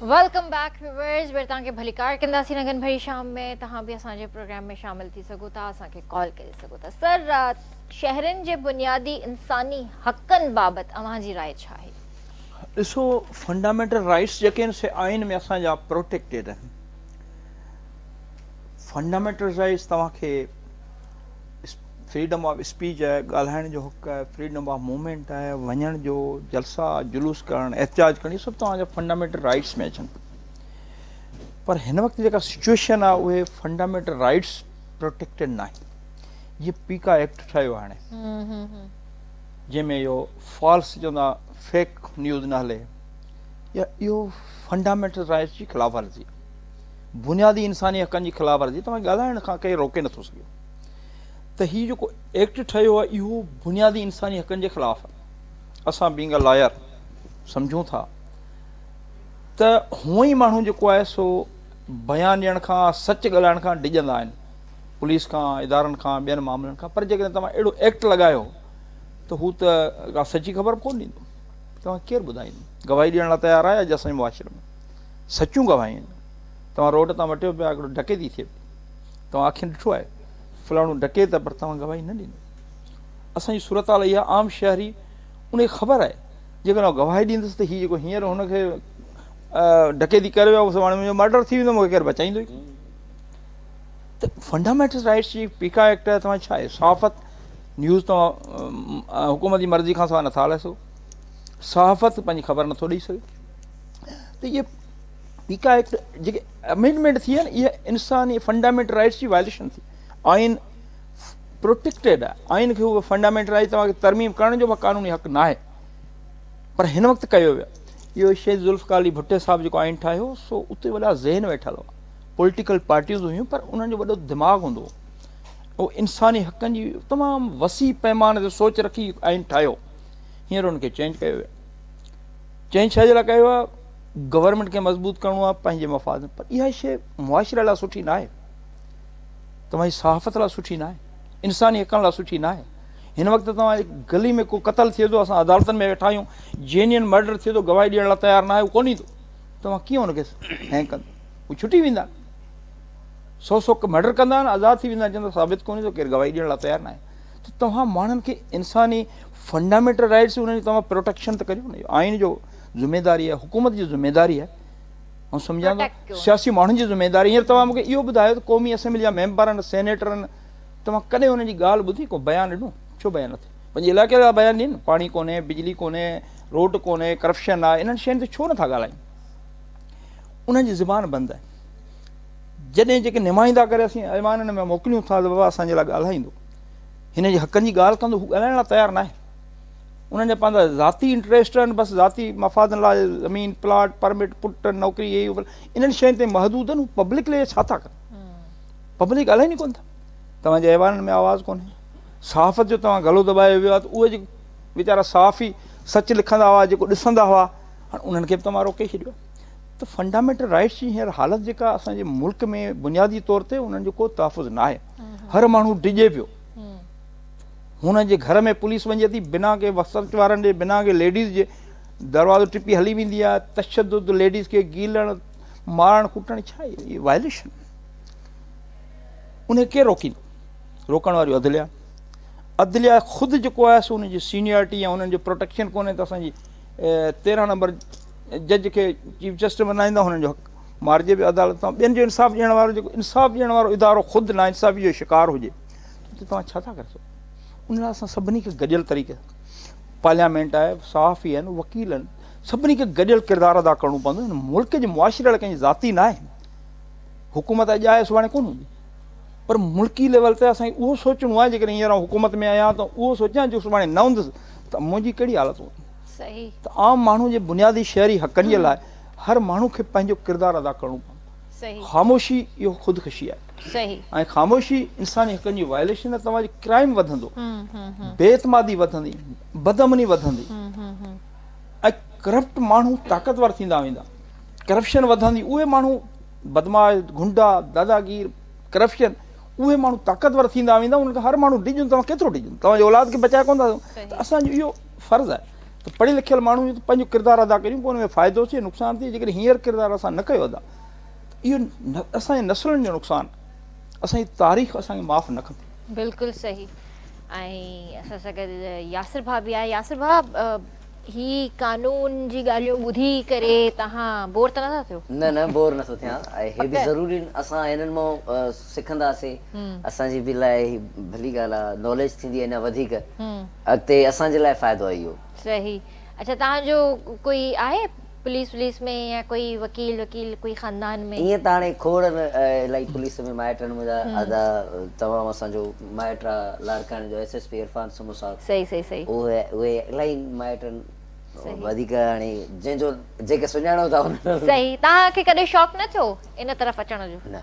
ويلڪم بيڪ ويورز وري توهان کي ڀليڪار ڪنداسين اگهن ڀري شام ۾ توهان به اسان جي پروگرام ۾ شامل ٿي سگهو ٿا اسان کي ڪال ڪري سگهو ٿا سر شهرين جي بنيادي انساني حقن بابت اوهان جي راء ڇا آهي ڏسو فنڊامينٽل رائيٽس جيڪي آهن سي آئين ۾ اسان جا پروٽيڪٽيڊ آهن فنڊامينٽل رائيٽس توهان کي فريڊم آف اسپيچ آهي، ڳالهائڻ جو حق آهي، فريڊم آف موومينٽ آهي، وڃڻ جو، جلسا، جلوس ڪرڻ، احتجاج ڪرڻ، اهي سڀ توهان جا فنڊامينٽل رائيٽس ۾ اچن ٿا. پر هن وقت جيڪا سچويشن آهي اهي فنڊامينٽل رائيٽس پروٽيڪٽيڊ ناهن. جيئن پي ڪا ايڪٽ ٺهيو هاڻي جنهن ۾ اهو فالس چوندا فيڪ نيوز نه هلي يا اهو فنڊامينٽل رائيٽس جي خلاف ورزي بنيادي انساني حقن جي خلاف ورزي توهان ڳالهائڻ کان ڪير روڪي نٿو سگهي. ته هي جيڪو ايڪٽ ٺهيو آهي اهو بنيادي انساني حقن جي خلاف آهي اسان بينگ ا لاير سمجهون ٿا ته هونء ئي ماڻهو جيڪو آهي سو بيان ڏيڻ کان سچ ڳالهائڻ کان ڊڄندا آهن پوليس کان ادارن کان ٻين معاملن کان پر جيڪڏهن توهان اهڙو ايڪٽ لڳايو ته هو ته ڳالهه سچي خبر به ڪونه ڏيندو توهان کير ٻڌائيندو گواهي ڏيڻ لاء تيار آهي اڄ اسان جي معاشري ۾ سچون گواهيون آهن توهان روڊ تان وٽيو پيا هڪڙو ڊڪيتي ٿئي پئي توهان اکين ڏٺو آهي فلاڻو ڊڪيت آهي پر توهان گواهي نه ڏني. اسان جي صورتحال اهي آهي عام شهري ان کي خبر آهي جيڪڏهن هو گواهي ڏيندس ته هي جيڪو هينئر هن کي ڊڪيتي ڪري ويو سو هاڻي منهنجو مرڊر ٿي ويندو مون کي ڪير بچائيندو ئي ته فنڊامينٽل رائٽس جي پيڪا ايڪٽ آهي توهان ڇا آهي صحافت نيوز توهان حڪومت جي مرضي کان سواء نٿا هلائي سگهو صحافت پنهنجي خبر نٿو ڏئي سگهي ته اهي پيڪا ايڪٽ جيڪي امينڊمينٽ ٿي آهي اها انساني فنڊامينٽل رائٽس جي وائليشن ٿي آئين پروٽيڪٽيڊ آهي آئين کي اهو فنڊامينٽل رائٽ توهان کي ترميم ڪرڻ جو به قانوني حق نه آهي پر هن وقت ڪيو ويو اهو شيخ ذوالفقار علي ڀٽي صاحب جيڪو آئين ٺاهيو سو اتي وڏا ذهن ويٺل هو پوليٽيڪل پارٽيز هيون پر انهن جو وڏو دماغ هوندو هو انساني حقن جي تمام وسيع پيمانه تي سوچ رکي آئين ٺاهيو هينئر ان کي چينج ڪيو ويو چئين ڇا جي لاء ڪيو آهي گورنمينٽ کي مضبوط ڪرڻو آهي پنهنجي مفاد پر اها شيء معاشري لاء سٺي ناهي توهان جي صحافت لاء سٺي ناهي انساني حقن لاء سٺي ناهي هن وقت توهان جي گلي ۾ ڪو قتل ٿئي ٿو اسان عدالتن ۾ ويٺا آهيون جينين مرڊر ٿئي ٿو گواهي ڏيڻ لاء تيار ناهي هو ڪون ايندو توهان ڪيئن ان کي هين ڪندو هو ڇٽي ويندا سو سو مرڊر ڪندا آهن آزاد ٿي ويندا آهن چوندا ثابت ڪون ايندو ڪير گواهي ڏيڻ لاء تيار ناهي ته توهان ماڻهن کي انساني فنڊامينٽل رائيٽس انهن جي توهان پروٽيڪشن ته ڪريو نه آئين جو ذميداري آهي حڪومت جي ذميداري آهي آئون سمجهان ٿو سياسي ماڻهن جي ذميداري هينئر توهان مونکي اهو ٻڌايو ته قومي اسيمبلي جا ميمبرن سينيٽرن توهان ڪڏهن انهن جي ڳالهه ٻڌي ڪو بيان ڏنو ڇو بيان نه ٿي پنهنجي علائقي جا بيان ڏين پاڻي ڪونهي بجلي ڪونهي روڊ ڪونهي ڪرپشن آهي انهن شين تي ڇو نٿا ڳالهائين انهن جي زبان بند آهي جڏهن جيڪي نمائندا ڪري اسين ايوانن ۾ موڪليون ٿا ته بابا اسان جي لاء ڳالهائيندو هن جي حقن جي ڳالهه ڪندو هو ڳالهائڻ لاء تيار ناهي انهن جا پنهنجا ذاتي انٽريسٽ آهن بس ذاتي مفادن لاء زمين پلاٽ پرمٽ پٽ نوڪري هي انهن شين تي محدود آهن هو پبلڪ لي ڇا ٿا ڪن پبلڪ ڳالهائين ئي ڪون ٿا توهان جي ايوانن ۾ آواز ڪونهي صحافت جو توهان گلو دٻايو ويو آهي ته اهي جي ويچارا صحافي سچ لکندا هئا جيڪو ڏسندا هئا هاڻي انهن کي به توهان روڪي ڇڏيو ته فنڊامينٽل رائٽس جي هينئر حالت جيڪا اسان جي ملڪ ۾ بنيادي طور تي انهن جو ڪو تحفظ ناهي هر ماڻهو ڊڄي پيو. هن جي گهر ۾ پوليس وڃي ٿي، بنا ڪنهن وسرچ وارن جي، بنا ڪنهن ليڊيز جي دروازو ٽپي هلي ويندي آهي. تشدد، ليڊيز کي گيلڻ، مارڻ ڪٽڻ ڇا اهي اهي وائليشن آهن. ان کي ڪير روڪيندو؟ روڪڻ واريون عدليا. عدليا خود جيڪو آهي سو ان جي سينيارٽي يا انهن جو پروٽيڪشن ڪونهي ته اسان جي تيرهن نمبر جج کي چيف جسٽس بنائيندا هنن جو حق مارجي به عدالت تان ٻين جو انصاف ڏيڻ وارو جيڪو انصاف ڏيڻ وارو ادارو خود ناانصافي جو شڪار هجي ته توهان ڇا ٿا ڪري سگهو ان لاء اسان سڀني کي گڏيل طريقي پارليامينٽ آهي صحافي آهن وڪيل آهن سڀني کي گڏيل ڪردار ادا ڪرڻو پوندو هن ملڪ جي معاشري اهڙا ڪنهن ذاتي ناهي حڪومت اڄ آهي سڀاڻي ڪون هوندي پر ملڪي ليول تي اسان اهو سوچڻو آهي جيڪڏهن هينئر حڪومت ۾ آهيان ته اهو سوچيان جو سڀاڻي نه هوندس ته منهنجي ڪهڙي حالت هوندي صحيح ته عام ماڻهو جي بنيادي شهري حقن جي لاء هر ماڻهو کي پنهنجو ڪردار ادا ڪرڻو پوندو. خاموشي اهو خودڪشي آهي. ۽ خاموشي انساني حقن جي وائليشن آهي توهان جي ڪرائيم وڌندو. بي اعتمادي وڌندي. بدامني وڌندي. ۽ ڪرپٽ ماڻهو طاقتور ٿيندا ويندا. ڪرپشن وڌندي اهي ماڻهو بدمعاش، غنڊا، داداگير، ڪرپشن اهي ماڻهو طاقتور ٿيندا ويندا انهن کان هر ماڻهو ڊڄندو توهان ڪيترو ڊڄندو توهان جي اولاد کي بچائي ڪونه ٿا سگهو ته اسان جو اهو فرض آهي. ته پڙهيل لکيل ماڻهو ته پنهنجو ڪردار ادا ڪريون پوء ان ۾ فائدو ٿئي نقصان ٿئي جيڪڏهن هينئر ڪردار اسان نه ڪيو ادا ته اهو اسان جي نسلن جو نقصان اسان جي تاريخ اسان کي معاف نه ڪندي. بلڪل صحيح ۽ اسان سان گڏ ياسر ڀا به آهي ياسر ڀا هي قانون جي ڳالهيون ٻڌي ڪري توهان بور ته نه ٿا ٿيو. نه نه بور نه ٿو ٿيان هي به ضروري اسان هنن مان سکنداسين اسان جي به لاء هي ڀلي ڳالهه آهي ناليج ٿيندي اڃا وڌيڪ اڳتي اسان جي لاء فائدو آهي اهو. صحيح اڇا توهان جو ڪوئي آهي پوليس وليس ۾ يا ڪوئي وڪيل وڪيل ڪوئي خاندان ۾. ائين ته هاڻي کوڙ الائي پوليس ۾ مائٽ آهن منهنجا ادا تمام اسان جو مائٽ آهي لاڙڪاڻي جو S S P Irfan Samoon صاحب صحيح صحيح صحيح اهي اهي الائي مائٽ آهن وڌيڪ هاڻي جنهن جو جيڪي سڃاڻو ٿا انهن صحيح توهان کي ڪڏهن شوق نه ٿيو ان طرف اچڻ جو. نه.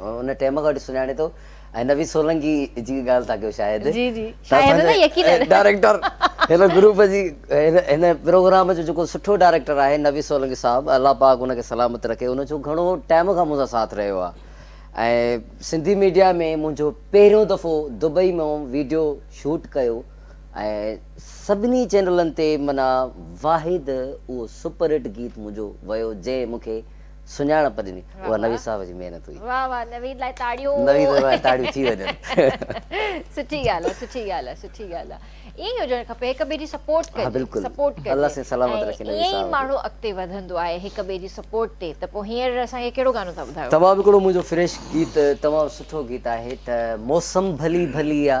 ان ٽيم کان وٺي سڃاڻي ٿو ۽ نويد سولنگي جي ڳالهه ٿا ڪيو شايد جي جي ڊائريڪٽر هن گروپ جي هن پروگرام جو جيڪو سٺو ڊائريڪٽر آهي نويد سولنگي صاحب الله پاڪ ان کي سلامت رکي ان جو گهڻو ٽائم کان مون سان ساٿ رهيو آهي ۽ سنڌي ميڊيا ۾ منهنجو پهريون دفعو دبئي ۾ ويڊيو شوٽ ڪيو ۽ سڀني چينلن تي منا واحد اهو سپر هٽ گيت منهنجو ويو جنهن مونکي سڃاڻپ ڏني اها نويد صاحب جي محنت هئي. واھ واھ نويد لاء تاڙيون. نويد لاء تاڙيون ٿي وڃن. سٺي ڳالھ آ سٺي ڳالھ آ سٺي ڳالھ آ ائين ئي هجڻ کپي هڪ ٻئي جي سپورٽ ڪجي. ها بلڪل سپورٽ ڪجي الله سائين سلامت رکي نويد ائين ئي صاحب کي. ماڻهو اڳتي وڌندو آهي هڪ ٻئي جي سپورٽ تي ته پوء هينئر اسان کي ڪهڙو گانو ٿا ٻڌايو. تمام هڪڙو منهنجو فريش گيت تمام سٺو گيت آهي ته موسم ڀلي ڀلي آ.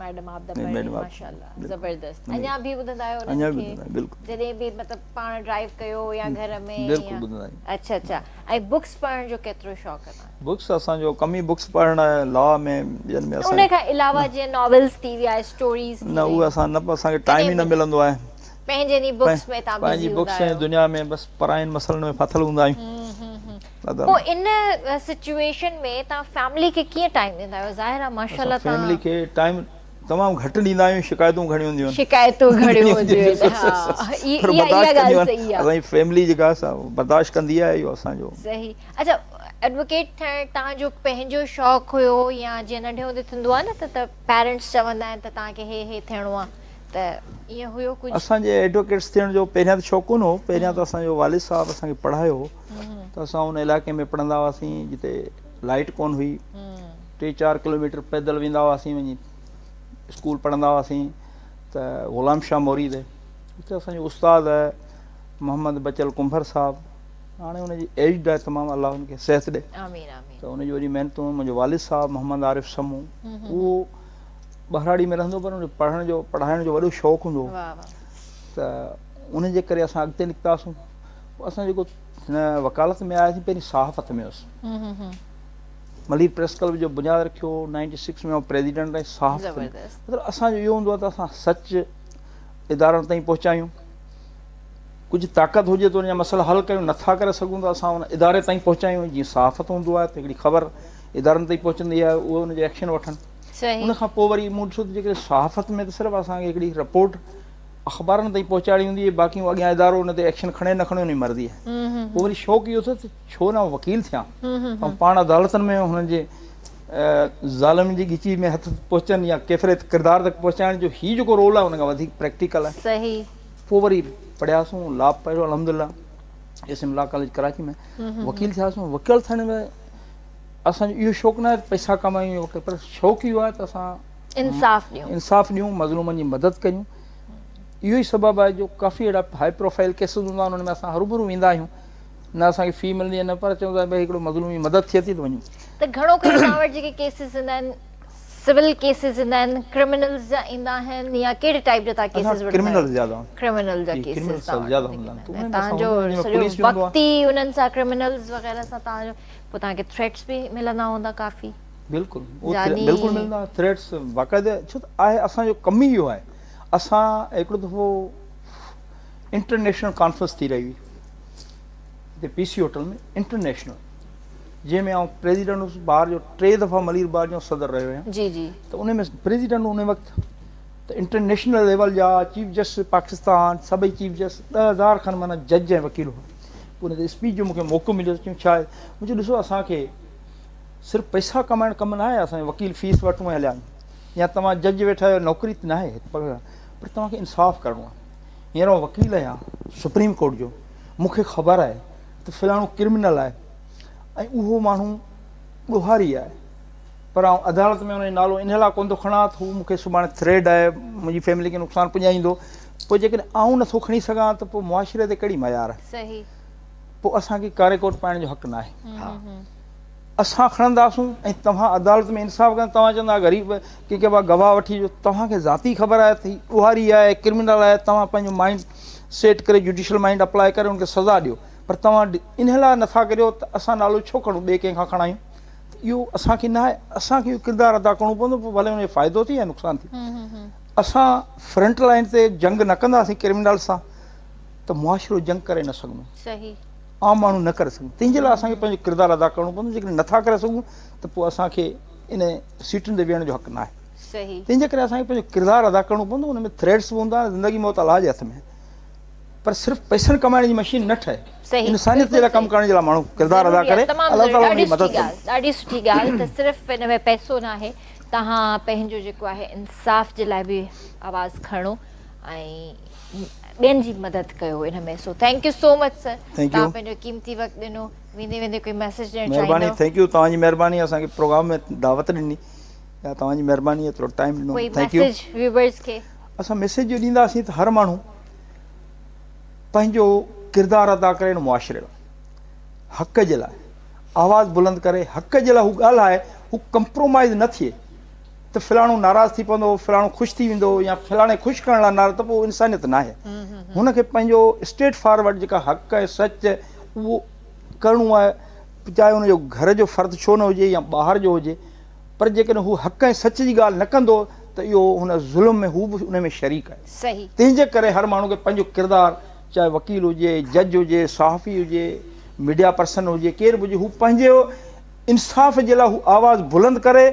ميڊم آف دا برڊ ماشاءالله زبردست اڃا به ٻڌندا آهيو انهن کي جڏهن به مطلب پاڻ ڊرائيو ڪيو يا گهر ۾ بلڪل ٻڌندا آهيون اچھا اچھا ۽ بڪس پڙهڻ جو ڪيترو شوق اٿو بڪس اسان جو ڪم ئي بڪس پڙهڻ آهي لا ۾ ٻين ۾ اسان ان کان علاوه جي ناولز ٿي ويا اسٽوريز ٿي نه اهي اسان نه اسان کي ٽائيم ئي نه ملندو آهي پنهنجين ئي بڪس ۾ تان بزي هوندا آهيو پنهنجي بڪس ۾ دنيا ۾ بس پراين مسئلن ۾ ڦاٿل هوندا آهيون پوء ان سچوئيشن ۾ توهان فيملي کي ڪيئن ٽائيم ڏيندا آهيو ظاهر آهي ماشاءالله توهان فيملي کي ٽائيم تمام گهٽ ڏيندا آهيون شڪايتون گهڻيون هونديون آهن شڪايتون گهڻيون هونديون آهن ها اها اها ڳالهه صحيح آهي اسان جي فيملي جيڪا آهي سا برداشت ڪندي آهي اهو اسان جو صحيح اچا ايڊووڪيٽ ٿيڻ توهان جو پنهنجو شوق هيو يا جيئن ننڍي هوندي ٿيندو آهي نه ته ته پيرنٽس چوندا آهن ته توهان کي هي هي ٿيڻو آهي ته ايئن هيو ڪجهه اسان جي ايڊووڪيٽس ٿيڻ جو پهريان ته شوق ڪونه هو پهريان ته اسان جو والد صاحب اسان کي پڙهايو هو ته اسان ان علائقي ۾ پڙهندا هئاسين جتي لائيٽ ڪون هئي ٽي چار ڪلوميٽر پيدل ويندا هئاسين وڃي اسڪول پڙهندا هئاسين ته غلام شاهه موريد اتي اسانجو استاد محمد بچل ڪنڀر صاحب هاڻي ان جي ايج ڏا تمام الله ان کي صحت ڏي ته ان جي وڏي محنتون منهنجو والد صاحب محمد عارف سمو اهو ٻهراڙي ۾ رهندو پر پڙهڻ جو پڙهائڻ جو وڏو شوق هوندو هو ته ان جي ڪري اسان اڳتي نڪتاسون اسان جيڪو وڪالت ۾ آياسين پهرين صحافت ۾ هيس ملير پريس ڪلب جو بنياد رکيو نائنٽي سڪس ۾ پريزيڊنٽ ۽ صحافت مطلب اسان جو اهو هوندو آهي ته اسان سچ ادارن تائين پهچايون ڪجهه طاقت هجي ته ان جا مسئلا حل ڪيون نٿا ڪري سگهون ته اسان ان اداري تائين پهچايون جيئن صحافت هوندو آهي ته هڪڙي خبر ادارن تائين پهچندي آهي اهو ان جو ايڪشن وٺن ان کان پوء وري مون ڏسو ته جيڪڏهن صحافت ۾ ته صرف اسان کي هڪڙي رپورٽ اخبارن تائين پهچائڻي هوندي هئي باقي هو اڳيان ادارو ان تي ايڪشن کڻي نه کڻي ان جي مرضي آهي پوء وري شوق اهو اٿس ته ڇو نه آئون وڪيل ٿيان ۽ پاڻ عدالتن ۾ هنن جي ظالمن جي ڳچي ۾ هٿ پهچن يا ڪيفري ڪردار تڪ پهچائڻ جو هي جيڪو رول آهي ان کان وڌيڪ پريڪٽيڪل آهي صحيح پوء وري پڙهياسون لا پڙهيو الحمدلله S M law college Karachi ۾ وڪيل ٿياسون وڪيل ٿيڻ ۾ اسان جو اهو شوق نه آهي ته پئسا ڪمايون پر شوق اهو آهي ته اسان انصاف ڏيون انصاف ڏيون مظلومن جي مدد ڪريون اهو ئي سبب آهي جو ڪافي اهڙا هاء پروفائل ڪيسز هوندا آهن ان ۾ اسان هروبرو ويندا آهيون نه اسان کي في ملندي نه پر چون ٿا بھي هڪڙو مظلوم جي مدد ٿئي ٿي ته وڃو ته گھڻو ڪري اسان وٽ جيڪي ڪيسز ايندا آهن سول ڪيسز ايندا آهن ڪرمنلز جا ايندا آهن يا ڪهڙي ٽائپ جا تان ڪيسز وٺندا ڪرمنلز جا ٿا ڪرمنل جا ڪيسز تان زياده هوندا آهن تان جو سڄو وقت ئي انهن سان ڪرمنلز وغيره سان تان جو پوء تان کي ٿريٽس به ملندا هوندا ڪافي بلڪل بلڪل ملندا ٿريٽس باقاعده ڇو ته آهي اسان جو ڪم ئي اهو آهي اسان هڪڙو دفعو انٽرنيشنل ڪانفرنس ٿي رهي هئي هتي پي سي هوٽل ۾ انٽرنيشنل جنهن ۾ آئون پريزيڊنٽ هوس بار جو ٽي دفعا ملير بار جو صدر رهيو آهيان جي جي ته ان ۾ پريزيڊنٽ ان وقت ته انٽرنيشنل ليول جا چيف جسٽس پاڪستان سڀئي چيف جسٽس ڏه هزار کن مانا جج ۽ وڪيل هئا پوء ان تي اسپيچ جو مون کي موقعو مليو چيم شايد مون چيو ڏسو اسان کي صرف پئسا ڪمائڻ ڪم ناهي اسان جي وڪيل فيس وٺون ۽ هليا وڃن يا توهان جج ويٺا آهيو نوڪري ته ناهي پر پر توهان کي انصاف ڪرڻو آهي هينئر آئون وڪيل آهيان سپريم ڪورٽ جو مون کي خبر آهي ته فلاڻو ڪرمنل آهي ۽ اهو ماڻهو ڏوهاري آهي پر آئون عدالت ۾ ان جو نالو ان لاء ڪونه ٿو کڻان ته هو مون کي سڀاڻي ٿريڊ آهي منهنجي فيملي کي نقصان پڄائيندو پوء جيڪڏهن آئون نٿو کڻي سگهان ته پوء معاشري تي ڪهڙي معيار آهي صحيح پوء اسان کي ڪاري ڪوٽ پائڻ جو حق ناهي اسان کڻنداسون ۽ توهان عدالت ۾ انصاف ڪندا توهان چوندا آهيو غريب ڪي ڪي بابا گواهه وٺي اچو توهان کي ذاتي خبر آهي ته هي ڏوهاري آهي ڪرمنل آهي توهان پنهنجو مائينڊ سيٽ ڪري جوڊيشل مائينڊ اپلاء ڪري ان کي سزا ڏيو پر توهان ان لاء نٿا ڪريو ته اسان نالو ڇو کڻون ٻئي ڪنهن کان کڻايون ته اهو اسان کي ناهي اسان کي اهو ڪردار ادا ڪرڻو پوندو پوء ڀلي ان جو فائدو ٿئي يا نقصان ٿئي اسان فرنٽ لائين تي جنگ نه ڪنداسين ڪرمنل سان ته معاشرو جنگ ڪري نه سگهندو صحيح عام ماڻهو نه ڪري سگهن تنهن جي لاء اسان کي پنهنجو ڪردار ادا ڪرڻو پوندو جيڪڏهن نٿا ڪري سگهون ته پوء اسان کي ان سيٽن تي ويهڻ جو حق ناهي تنهن جي ڪري اسان کي پنهنجو ڪردار ادا ڪرڻو پوندو ان ۾ ٿريڊس به هوندا آهن زندگي موت الله جي هٿ ۾ آهي پر صرف پئسن ڪمائڻ جي مشين نه ٺهي انسانيت جي لاء ڪم ڪرڻ جي لاء ماڻهو ڪردار ادا ڪري الله تعالي ان جي مدد ڪندو ڏاڍي سٺي ڳالهه ته صرف ان ۾ پئسو ناهي توهان پنهنجو جيڪو آهي انصاف جي لاء به آواز کڻو ۽ ٻين جي مدد ڪيو ان ۾ سو thank you so much sir تان پنهنجو قيمتي وقت ڏنو ويندي ويندي ڪوئي ميسج ڏيڻ چاهيندو مهرباني ٿينڪ يو توهان جي مهرباني اسان کي پروگرام ۾ دعوت ڏني يا توهان جي مهرباني ٿورو ٽائيم ڏنو ٿينڪ يو ميسج ويورز کي اسان ميسج جو ڏيندا سين ته هر ماڻهو پنهنجو ڪردار ادا ڪري ان معاشري لاء حق جي لاء آواز بلند ڪري حق جي لاء هو ڳالهائي هو ڪمپرومائز نه ٿئي ته فلاڻو ناراض ٿي پوندو، فلاڻو خوش ٿي ويندو يا فلاڻي خوش ڪرڻ لاء ناراض ته پوء اهو انسانيت ناهي. هن کي پنهنجو اسٽريٽ فارورڊ جيڪا حق ۽ سچ اهو ڪرڻو آهي چاهي ان جو گهر جو فرد ڇو نه هجي يا ٻاهر جو هجي پر جيڪڏهن هو حق ۽ سچ جي ڳالهه نه ڪندو ته اهو هن ظلم ۾ هو به ان ۾ شريڪ آهي. تنهن جي ڪري هر ماڻهو کي پنهنجو ڪردار چاهي وڪيل هجي، جج هجي، صحافي هجي، ميڊيا پرسن هجي، ڪير به هجي هو پنهنجو انصاف جي لاء هو آواز بلند ڪري،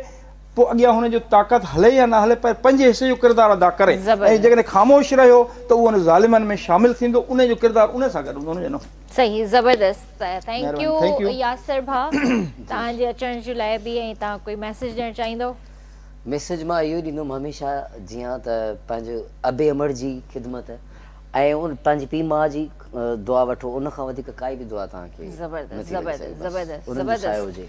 پوء اڳيان هن جو طاقت هلي يا نه هلي پر پنهنجي حصي جو ڪردار ادا ڪري ۽ جيڪڏهن خاموش رهيو ته اهو ان ظالمن ۾ شامل ٿيندو انهي جو ڪردار انهي سان گڏ هوندو انهي جو نه هوندو. صحيح زبردست ٿينڪ يو ياسر ڀاء توهان جي اچڻ جي لاء به ۽ توهان ڪوئي ميسج ڏيڻ چاهيندو. ميسج مان اهو ڏيندم هميشه جيئن ته پنهنجو ابي امڙ جي خدمت ۽ پنهنجي پيء ماء جي دعا وٺو ان کان وڌيڪ ڪائي به دعا توهان کي نٿي لڳي سگهي بس انهن جو سايو هجي.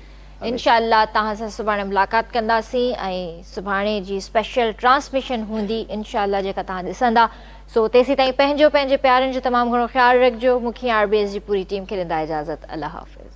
انشاء الله توهان سان سڀاڻي ملاقات ڪنداسين ۽ سڀاڻي جي اسپيشل ٽرانسميشن هوندي انشاء الله جيڪا توهان ڏسندا سو تيسيتائين پنهنجو پنهنجي پيارن جو تمام گهڻو خيال رکجو مون کي ۽ آر بي ايس جي پوري ٽيم کي ڏيندا اجازت الله حافظ.